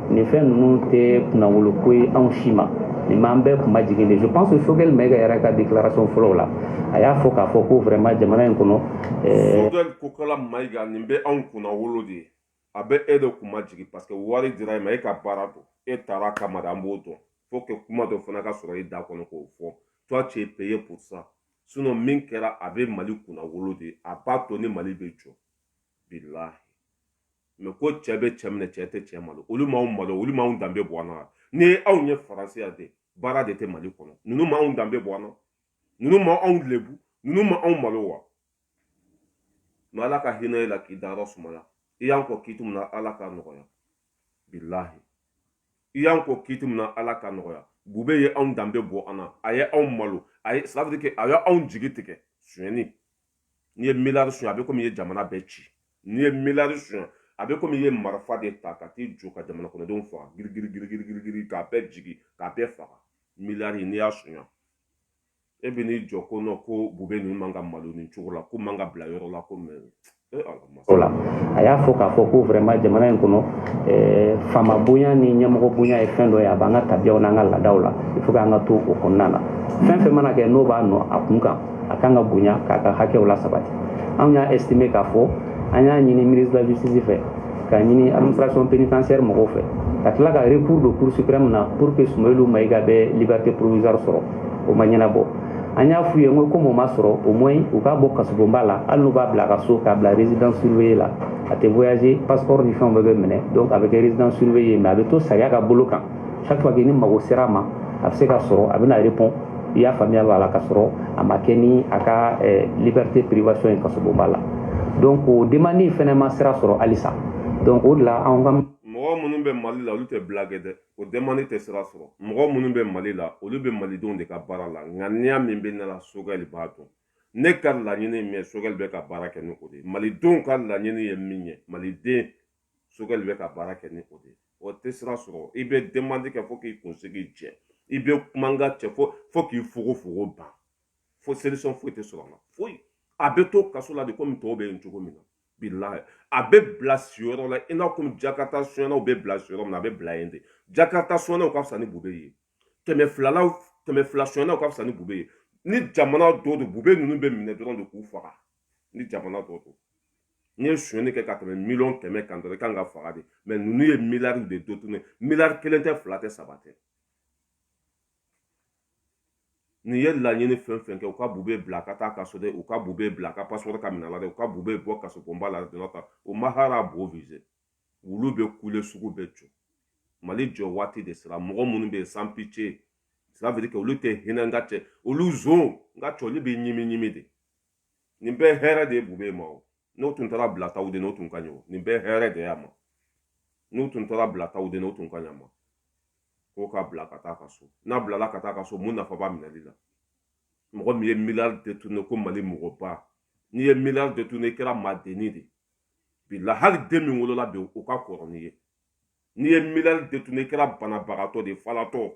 nin fɛn ninnu tɛ kunnawolo ko ye anw si ma nin b'an bɛɛ kunmajigin de je pense que Sogɛli Mayiga yɛrɛ ka déclaration fɔlɔw la a y'a fɔ k'a fɔ ko vraiment jamana in kɔnɔ eh, Sogɛli Kokala Mayiga nin bɛ anw kunnawolo de a bɛ e de kunmajigin parce que wari dira e ma e ka baara don e tara a kama de an b'o dɔn faut que kuma dɔ fana ka sɔrɔ e da kɔnɔ k'o fɔ toi tu es payé pour ça sinon min kɛra a bɛ mali kunnawolo de a b'a to ni mali bɛ jɔ bilahi mais ko cɛ bɛ cɛ minɛ cɛ tɛ cɛ malo olu m'anw malo olu m'anw danbe bɔ an na ni anw ye faransi ya de baara de tɛ mali kɔnɔ ninnu m'anw danbe bɔ an na ninnu ma anw lebu ninnu ma anw malo wa mais ala ka hinɛ e la k'i dayɔrɔ sumaya i y'an kɔn kiti min na ala k'a nɔgɔya bilahi i y'an kɔn kiti min na ala k'a nɔgɔya bube ye anw danbe bɔ an na a ye anw malo a ye sadike a ye anw jigi tigɛ sonyɛni n'i ye miliyari suɲɛ a bɛ komi i ye jamana bɛɛ ci n'i ye miliyari suɲɛ a bɛ komi i ye marifa de ta ka t'i jɔ ka jamana kɔnɔdenw faga girigirigirigirigiri k'a bɛɛ jigin k'a bɛɛ faga miliyari n'i y'a suɲɛ e bɛ n'i jɔ ko non ko bube ninnu man ka malo nin cogo la k'u man ka bila yɔrɔ la ko mɛ e ala O la a y'a fɔ k'a fɔ ko vraiment jamana in kɔnɔ eh, faama bonya ni ɲɛmɔgɔ bonya ye fɛn dɔ ye a b'an ka tabiyaw n'an ka laadaw la il faut k'an ka to o kɔnɔna na fɛn fɛn mana kɛ n'o b'a nɔ a kun kan a kan ka bonya k'a ka hakɛw la sabati anw y'a estimé k'a fɔ an y'a ɲini ministre de la justice fɛ k'a ɲini administration pénitentiaire mɔgɔw fɛ ka tila ka recours don cour suprême na pour que sumayelu mayiga bɛ liberté provisoire sɔrɔ o ma ɲɛnabɔ an y'a f'u ye n ko komi o ma sɔrɔ au moins u k'a bɔ kasobonba la hali n'u b'a bila a ka so k'a bila résidence surveillée la a tɛ voyager passeport ni fɛnw bɛɛ bɛ minɛ donc a bɛ kɛ résidence surveillée mais a bɛ to sariya ka bolo kan chaque fois que ni mago sera a ma a bɛ se ka sɔrɔ a bɛna répondre i y'a faamuya b'a la ka sɔrɔ a ma kɛ ni a ka eh, liberté privation ye kasobonba la donc o demande fɛnɛ ma sira sɔrɔ halisa donc o de la anw ka mɔgɔ minnu bɛ mali la olu tɛ blague dɛ o dɛmandi tɛ sira sɔrɔ mɔgɔ minnu bɛ mali la olu bɛ malidenw de ka baara la ŋaniya min bɛ ne la sogɛli b'a dɔn ne ka laɲini min ye sogɛli bɛ ka baara kɛ ni o de ye malidenw ka laɲini ye min ye maliden sogɛli bɛ ka baara kɛ ni o de ye o tɛ sira sɔrɔ i bɛ dɛmandi kɛ fo k'i kunsigi jɛ i bɛ kuma n ka cɛ fo fo k'i fogofogo ban fo solution foyi tɛ sɔrɔ a la foyi a bɛ to kaso la de komi tɔw bɛ yen cogo min na bilahi a bɛ bila siyɔrɔ la i n'a komi jakarita sonyɛnnaw bɛ bila siyɔrɔ min na a bɛ bila yen de jakarita sonyɛnnaw ka fisa ni bube ye kɛmɛ filalaw kɛmɛ fila sonyɛnnaw ka fisa ni bube ye ni jamana dɔ don bube ninnu bɛ minɛ dɔrɔn de k'u faga ni jamana dɔ don n'i ye sonyɛnni kɛ ka tɛmɛ miliyɔn kɛmɛ kan dɔrɔn i kan ka faga de mɛ ninnu ye miliyari de détourné miliyari kelen tɛ fila tɛ saba tɛ N'i ye laɲini fɛn fɛn kɛ u ka bube bila ka taa ka so dɛ u ka bube bila ka passeport ka minɛ la dɛ u ka bube bɔ kasobonba la dɔrɔn kan o mahara bo vize wulu bɛ kule sugu bɛ jɔ mali jɔ waati de sera mɔgɔ minnu bɛ yen sans pitié c'est-à-dire que olu tɛ hinɛ n ka cɛ olu zon n ka cɛ olu bɛ ɲimi ɲimi de nin bɛɛ hɛrɛ de ye bube ma o n'u tun taar'a bila tawudeni o tun ka ɲɔgɔn nin bɛɛ hɛrɛ de y'a ma n'u tun taar'a bila tawudeni o tun ka ɲ'a ma ko k'a bila ka taa ka so n'a bilala ka taa ka so mun nafa b'a minɛli la mɔgɔ min ye miliyari détourné ko mali mɔgɔba n'i ye miliyari détourné i kɛra maadenni de bi la hali den min wolola bi o ka kɔrɔ n'i ye n'i ye miliyari détourné i kɛra banabagatɔ de falatɔ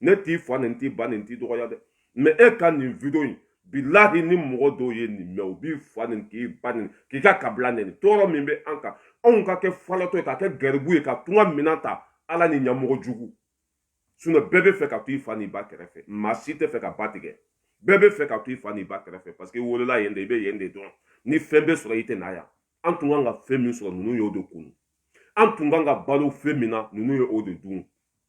ne t'i fa nɛni t'i ba nɛni t'i dɔgɔya dɛ mɛ e ka nin video in bilahi ni mɔgɔ dɔw ye nin mɛn u b'i fa nɛni k'i ba nɛni k'i ka kabila nɛni tɔɔrɔ min bɛ an kan anw ka kɛ falatɔ ye ka kɛ garibu ye ka tunga minan ta ala ni ɲɛmɔgɔ jugu sinɔ bɛɛ b'a fɛ ka to i fa n'i ba kɛrɛfɛ maa si t'a fɛ ka ba tigɛ bɛɛ b'a fɛ ka to i fa n'i ba kɛrɛfɛ parce que i wolola yen de i bɛ yen de dɔn ni fɛn bɛ sɔrɔ i tɛ na yan an tun kan ka fɛn min sɔrɔ ninnu y'o de kunu an tun kan ka balo fɛn min na ninnu ye o de dun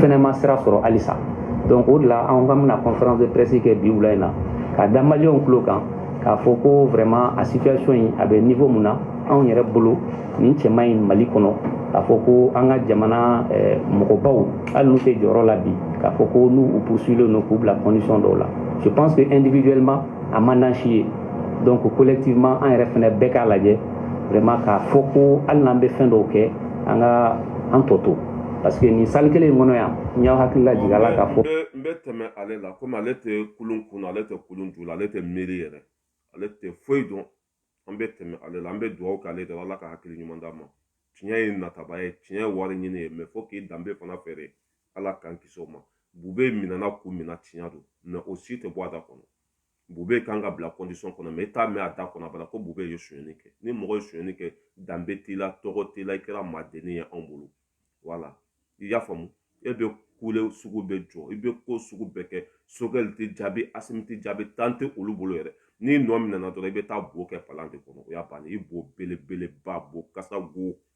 fɛnɛ ma sira sɔrɔ halisa donc o de la an k'an bɛna conférence de presse kɛ bi wula in na ka da maliyɛnw tulo kan k'a fɔ ko vraiment a situation in a bɛ niveau mun na anw yɛrɛ bolo nin cɛman in mali kɔnɔ k'a fɔ ko an ka jamana eh, mɔgɔbaw hali n'u tɛ jɔyɔrɔ la bi k'a fɔ ko n'u u poursuilen don k'u bila condition dɔw la je pense que individuellement a man d'an si ye donc collectivement an yɛrɛ fana bɛɛ k'a lajɛ vraiment k'a fɔ ko hali n'an bɛ fɛn dɔw kɛ an k'a tɔ to parce que nin salle kelen in kɔnɔ yan n y'aw hakili lajigin a la k'a fɔ. n bɛ tɛmɛ ale la komi ale tɛ kulun kun ale tɛ kulun ju la ale tɛ miiri yɛrɛ ale tɛ foyi dɔn an bɛ tɛmɛ ale la an bɛ dugawu kɛ ale de la ala ka hakili ɲuman d'a ma tiɲɛ ye nataba ye tiɲɛ ye wari ɲini ye mɛ fo k'i danbe fana feere ala k'an kisi o ma bube minɛna kun min na tiɲɛ don mɛ o si tɛ bɔ a da kɔnɔ bube kan ka bila condition kɔnɔ mɛ i t'a mɛn a da kɔnɔ abada ko bube ye sonyɛni kɛ ni mɔgɔ ye sonyɛni kɛ danbe t'i la tɔgɔ t'i la i kɛra madennin ye anw bolo wala i y'a faamu e bɛ kule sugu bɛɛ jɔ i bɛ ko sugu bɛɛ kɛ sogɛli t'i jaabi asimi t'i jaabi temps tɛ olu bolo yɛrɛ n'i nɔ minɛna dɔrɔn i bɛ taa bo kɛ palan de kɔnɔ o y'a bannen i bo belebeleba bo kasa go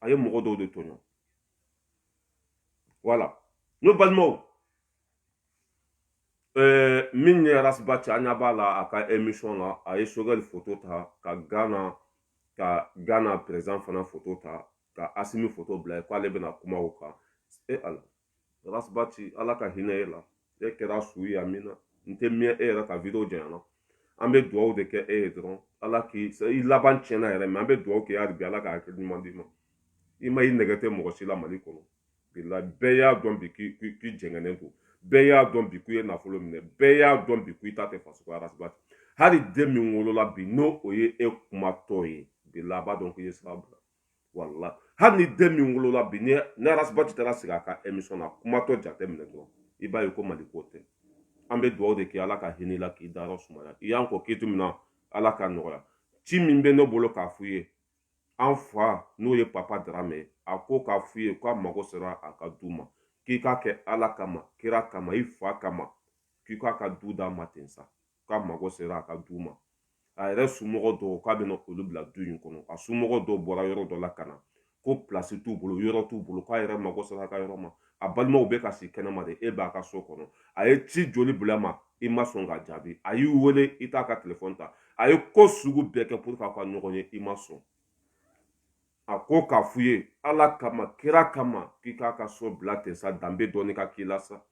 a ye mɔgɔ dɔw de tɔɲɔ wala ne balimaw ɛɛ min ye arasibati aw ɲɛ b'a la a ka emisɔn la a ye sogɛli foto ta ka gana ka gana perezidan fana foto ta ka asimi foto bila yen k'ale bɛna kuma o kan e ala rasbati ala ka hinɛ e la e kɛra suguya min na n tɛ miɲɛ e yɛrɛ ka video janyana an bɛ dugawu de kɛ e ye dɔrɔn ala k'i i laban tiɲɛna yɛrɛ mɛ an bɛ dugawu kɛ e hali ala ka hakili ɲuman d'i ma i ma i nɛgɛ tɛ mɔgɔ si la mali kɔnɔ bilen bɛɛ y'a dɔn bi k'i jɛngɛnen don bɛɛ y'a dɔn bi ko i ye nafolo minɛ bɛɛ y'a dɔn bi ko i ta tɛ faso ko rasbati hali den min wolola bi n'o o ye e kumatɔ ye bilahi a b'a dɔn k'i ye sira bila wala hali ni den min wolola bi ni ni arasibati taara sigi a ka emisɔn na kumatɔ jate minɛ dɔrɔn i b'a ye ko mali ko tɛ an bɛ dugawu de kɛ ala ka hinɛ i la k'i dayɔrɔ sumaya i y'an kɔ k'i to min na ala ka nɔgɔya ci min bɛ ne bolo k'a f'u ye an fa n'o ye papa darame ye a ko k'a f'u ye k'a mago sera a ka du ma k'i k'a kɛ ala kama kira kama i fa kama k'i k'a ka du d'a ma ten sa k'a mago sera a ka du ma a yɛrɛ somɔgɔ dɔw k'a bɛna olu bila du in kɔnɔ a somɔgɔ dɔw bɔra yɔrɔ dɔ la ka na ko pilasi t'u bolo yɔrɔ t'u bolo k'a yɛrɛ mago sera a ka yɔrɔ ma a balimaw bɛ ka si kɛnɛma de e b'a ka so kɔnɔ a ye ci joli bila i ma i ma sɔn ka jaabi a y'i wele i t'a ka telefɔni ta a ye ko sugu bɛɛ kɛ pour k'a ka ɲɔgɔn ye i ma sɔn a ko k'a f'u ye ala kama kira kama k'i k'a ka so bila ten sa danbe dɔɔni ka k'i la sa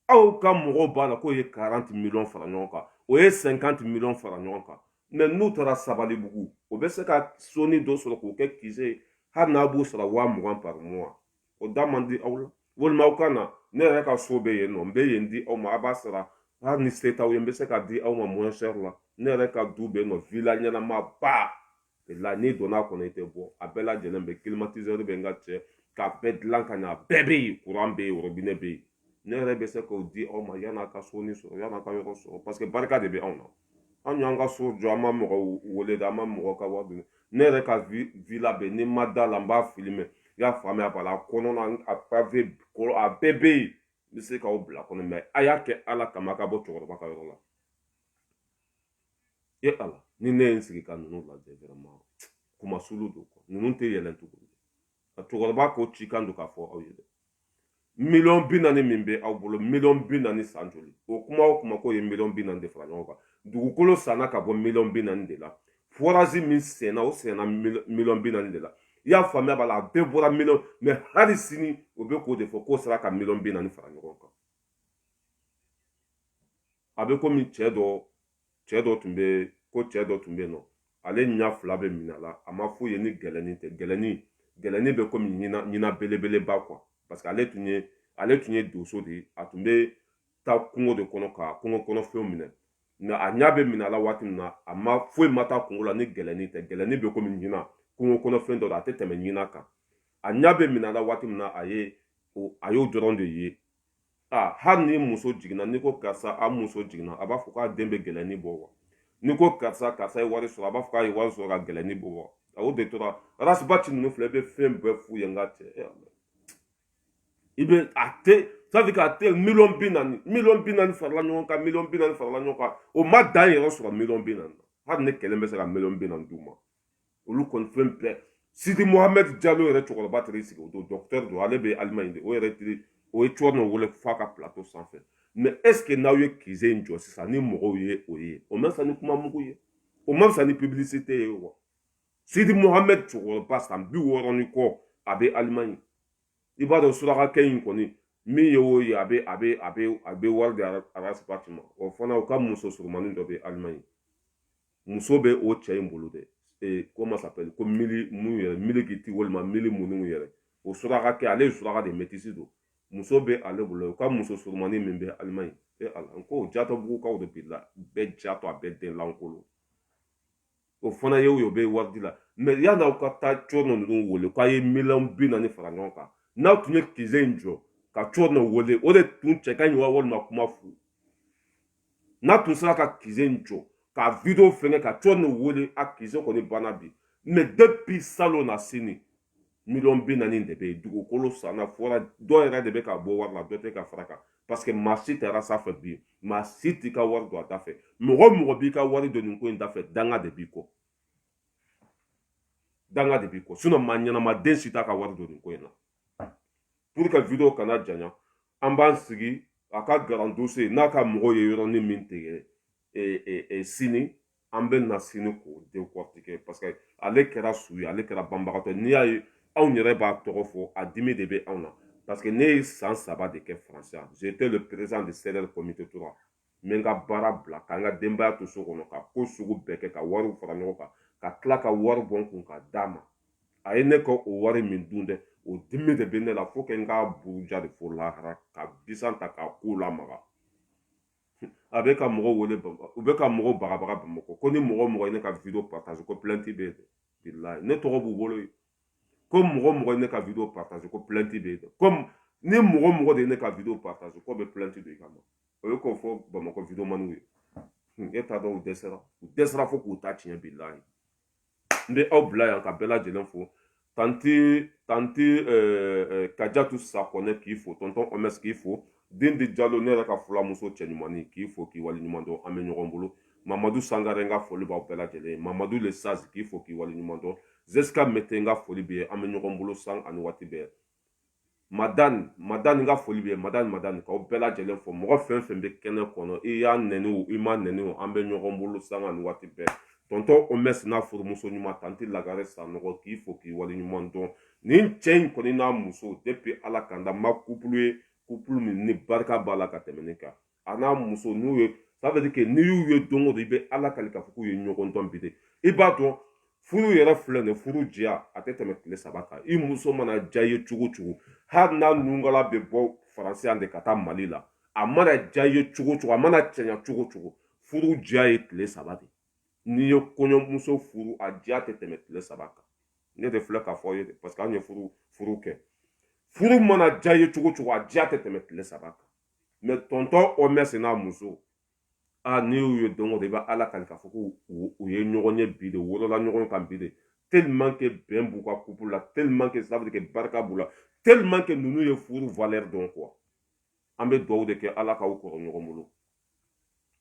aw ka mɔgɔw b'a la k'u ye karanti miliyɔn fara ɲɔgɔn kan o ye sɛnkanti miliyɔn fara ɲɔgɔn kan mɛ n'u taara sabalibugu o bɛ se ka soni dɔ sɔrɔ k'o kɛ kize ye hali n'a b'o sara waa mugan par mois o da man di aw la walima aw ka na ne yɛrɛ ka so bɛ yen nɔ n bɛ yen di aw ma a b'a sara hali ni se t'aw ye n bɛ se k'a di aw ma mɔnsɛri la ne yɛrɛ ka du bɛ yen nɔ vila ɲɛnama ba la n'i donna a kɔnɔ i tɛ bɔ a bɛɛ lajɛlen bɛ climatiseur bɛ n ka cɛ k'a bɛɛ dilan ka ɲɛ a bɛɛ bɛ yen kuran bɛ yen worobinɛ bɛ yen ne yɛrɛ bɛ se k'o di aw ma yan'a ka soni sɔrɔ yan'a ka yɔrɔ sɔrɔ parce que barika de bɛ anw na an y'an ka so jɔ an ma mɔgɔ wele dɛ an ma mɔgɔ ka wari dun ne yɛrɛ ka villa bɛ n'i ma da a la n b'a filime i y'a faamuya b'a la a kɔnɔna a pave karo a bɛɛ bɛ yen n bɛ se k'aw bila a kɔnɔ mɛ a y'a kɛ ala kama a ka bɔ cɛkɔrɔba ka yɔrɔ la e ala ni ne ye n sigi ka ninnu lajɛ vraiment kumasulu don kɔ ninnu tɛ yɛlɛn tuguni ka cɛkɔrɔba ko cikan don k'a fɔ aw ye dɛ miliyɔn bi naani min bɛ aw bolo miliyɔn bi naani san joli o kuma o kuma k'o ye miliyɔn bi naani de fara ɲɔgɔn kan dugukolo sanna ka bɔ miliyɔn bi naani de la forazi min senna o senna miliyɔn bi naani de la i y'a faamuya b'a la a bɛɛ bɔra miliyɔn mɛ hali sini o bɛ k'o de fɔ k'o sera ka miliyɔn bi naani fara ɲɔgɔn kan a bɛ komi cɛ dɔ cɛ dɔ tun bɛ ko cɛ dɔ tun bɛ yen nɔ ale ɲɛ fila bɛ minɛ a la a ma foyi ye ni gɛlɛnni tɛ gɛlɛnni gɛlɛnni bɛ komi ɲina ɲina belebeleba quoi parce que ale tun ye ale tun ye donso de ye a tun bɛ taa kungo de kɔnɔ ka kungo kɔnɔfɛnw minɛ mɛ a ɲa bɛ minɛ a la waati min na a ma foyi ma taa kungo la ni gɛlɛnni tɛ gɛlɛnni bɛ komi ɲinan kungo kɔnɔfɛn dɔ don a tɛ tɛmɛ ɲinan kan a ɲa bɛ minɛ a la waati min na a ye a y'o dɔrɔn de ye a hali ni muso jiginna n'i ko karisa a muso jiginna a b'a fɔ k'a den bɛ gɛlɛnni bɔ wa n'i ko karisa karisa ye wari sɔrɔ a b'a fɔ k'a ye wari sɔrɔ ka gɛlɛnni bɔ wa a y'o de tora arasibati ninnu filɛ i bɛ fɛn bɛɛ f'u ye n ka cɛ i bɛ a tɛ safi k'a tɛ miliyɔn bi naani miliyɔn bi naani farala ɲɔgɔn kan miliyɔn bi naani farala ɲɔgɔn kan o ma dan yɛrɛ sɔrɔ miliyɔn bi naani hali ne kelen bɛ se ka miliyɔn bi naani d'u ma olu kɔni fɛn bɛɛ sidi mohamɛd jalo yɛrɛ cɛkɔrɔba tɛrɛ sigi o don dɔkitɛri don ale bɛ alimaɲi de o yɛrɛ tiri o ye cɛrinɔ wele f'a ka pilato sanfɛ mɛ ɛseke n'aw ye kize in jɔ sisan ni mɔgɔw ye o ye o ma fisa ni kuma mugu ye o ma fisa ni pibilisite ye wa sidi mohamɛd cɛkɔrɔba san bi wɔɔrɔ ni kɔ a bɛ alimaɲi i b'a dɔn surakakɛ in kɔni min ye o ye a bɛ a bɛ a bɛ a bɛ wari di arasibati ma o fana u ka muso surumani dɔ bɛ alimaɲi muso bɛ o cɛ in bolo dɛ ee ko masapɛli ko mili mun yɛrɛ mili kiti walima mili munnu yɛrɛ o surakakɛ ale ye suraka de metisi don muso bɛ ale bolo u ka muso surumani min bɛ alimaɲi e ala n ko jatɔbugukaw de bi la bɛɛ jatɔ a bɛɛ den lankolon o fana ye o ye o bɛ wari di la mɛ yanni aw ka taa cɔrɔnɔ ninnu wele k'a ye miliyɔn bi naani fara ɲɔgɔn kan n'aw tun ye kizɛ in jɔ ka cɔrɔnɔ wele o de tun cɛ ka ɲi wa walima kuma fu n'a tun sera ka kizɛ in jɔ ka video fɛnkɛ ka cɔrɔnɔ wele a kizɛ kɔni banna bi mɛ depuis salonnasini miliyɔn bi naani de bɛ yen dugukolo sanna fɔra dɔ yɛrɛ de bɛ ka bɔ wari la dɔ tɛ ka fara kan paseke maa si taara sanfɛ bi maa si t'i ka wari don a da fɛ mɔgɔ mɔgɔ b'i ka wari don nin ko in da fɛ danga de b'i kɔ danga de b'i kɔ sinɔn maa ɲɛnama den si t'a ka wari don nin ko in na pour que video kana janya an b'an sigi a ka grand dossier n'a ka mɔgɔ ye yɔrɔnin min tigɛ e, e, e, sini an bɛ na sini k'o dekɔrɔtike parce que ale kɛra su ye ale kɛra banbagatɔ n'i y'a ye anw yɛrɛ b'a tɔgɔ fɔ a dimi de bɛ anw na parce que ne ye san saba de kɛ faransi yan j'étais le président de CDR comité tora n bɛ n ka baara bila ka n ka denbaya to so kɔnɔ ka ko sugu bɛɛ kɛ ka wariw fara ɲɔgɔn kan ka tila ka wari bɔ n kun ka d'a ma a ye ne ka o wari min dun dɛ o dimi de bɛ ne la fo kɛ n k'a buruja de fo lahara ka bisan ta k'a ko lamaga a bɛ ka mɔgɔ wele u bɛ ka mɔgɔ bagabaga bamakɔ ko ni mɔgɔ mɔgɔ ye ne ka video partage ko plainte bɛ bilayi ne tɔgɔ b'u bolo yen ko mɔgɔ mɔgɔ ye ne ka video partage ko plainte bɛ yen ko ni mɔgɔ mɔgɔ de ye ne ka video partage ko bɛ plainte de kama o ye k'o fɔ bamakɔ videomaniw ye e t'a dɔn u dɛsɛra u dɛsɛra fo k'u ta tiɲɛ bilayi n bɛ aw bila yan ka bɛɛ lajɛlen fo tanti tanti kajatu sakɔnɛ k'i fo tɔntɔn ɔmɛs k'i fo dindi jalo ne yɛrɛ ka fulamuso cɛɲumannin k'i fo k'i wale ɲuman dɔn an bɛ ɲɔgɔn bolo mamadu sangare n ka foli b'aw bɛɛ lajɛlen ye mamadu le sage k'i fo k'i wale ɲuman dɔn zesika mete n ka foli b'e ye an bɛ ɲɔgɔn bolo sanga ni waati bɛɛ madani madani n ka foli bɛ madani madani k'aw bɛɛ lajɛlen fo mɔgɔ fɛn fɛn bɛ kɛnɛ kɔnɔ i ye n nɛni o i ma n nɛni o an bɛ ɲɔgɔn bolo sanga ni waati bɛɛ tɔntɔn omɛsi n'a furumuso ɲuman tanti lagare sanɔgɔ k'i fo k'i waleɲuman dɔn nin cɛ in kɔni n'a muso depi ala ka n da n ma kupulu ye kupulu min ni barika b'a la ka tɛmɛ nin kan a n'a muso n'u ye ça veut dire que n'i y'u ye don o don i bɛ ala kali k'a fɔ k'u ye ɲɔgɔn dɔn bi de i b'a dɔn furu yɛrɛ filɛ nin furu diya a tɛ tɛmɛ tile saba kan i muso mana diya i ye cogo o cogo hali n'a nungala bɛ bɔ faransi yan de ka taa mali la a mana diya i ye cogo o cogo a mana cɛɲa cogo o cogo furu diya ye tile saba de n'i ye kɔɲɔmuso furu a diya tɛ tɛmɛ tile saba kan ne de filɛ k'a fɔ aw ye parce que anw ye furu furu kɛ furu mana diya i ye cogo o cogo a diya tɛ tɛmɛ tile saba kan mais tɔntɔn ɔmɛs n'a muso a n'i y'u ye don o don i bɛ ala kali k'a fɔ ko u ye ɲɔgɔn ye bi de wolola ɲɔgɔn kan bi de tellement que bɛn b'u ka couple la tellement que ça veut dire que barika b'u la tellement que ninnu ye furu valeur dɔn quoi an bɛ dugawu de kɛ ala k'aw kɔrɔ ɲɔgɔn bolo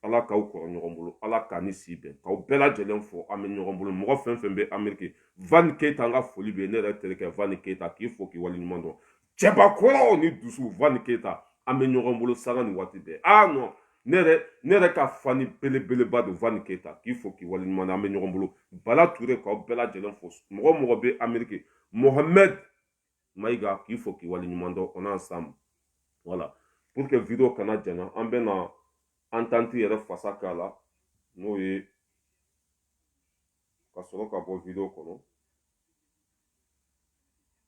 ala k'aw kɔrɔ ɲɔgɔn bolo ala k'a ni si bɛn k'aw bɛɛ lajɛlen fo an bɛ ɲɔgɔn bolo mɔgɔ fɛn fɛn bɛ ameriki van keyita an ka foli bɛ ne yɛrɛ terikɛ van keyita k'i fo k'i waleɲuman dɔn cɛbakɔrɔw ni dusu van keyita an bɛ ɲɔgɔn bolo sanga ni waati bɛɛ aa non ne yɛrɛ ne yɛrɛ ka fani belebeleba don van keyita k'i fo k'i waleɲuman dɔn an bɛ ɲɔgɔn bolo bala ture k'aw bɛɛ lajɛlen fo mɔgɔ o mɔgɔ bɛ ameriki mohamɛd mayiga k'i fo k'i waleɲuman dɔn on est ensemble voilà pour que video kana janya an bɛna entente yɛrɛ fasa k'a la n'o ye ka sɔrɔ ka bɔ video kɔnɔ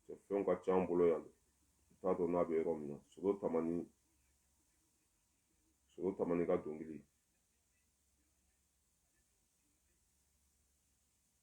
kɛfɛnw ka ca an bolo yan ne t'a dɔn n'a bɛ yɔrɔ min na sogo tamani sogo tamani ka dɔnkili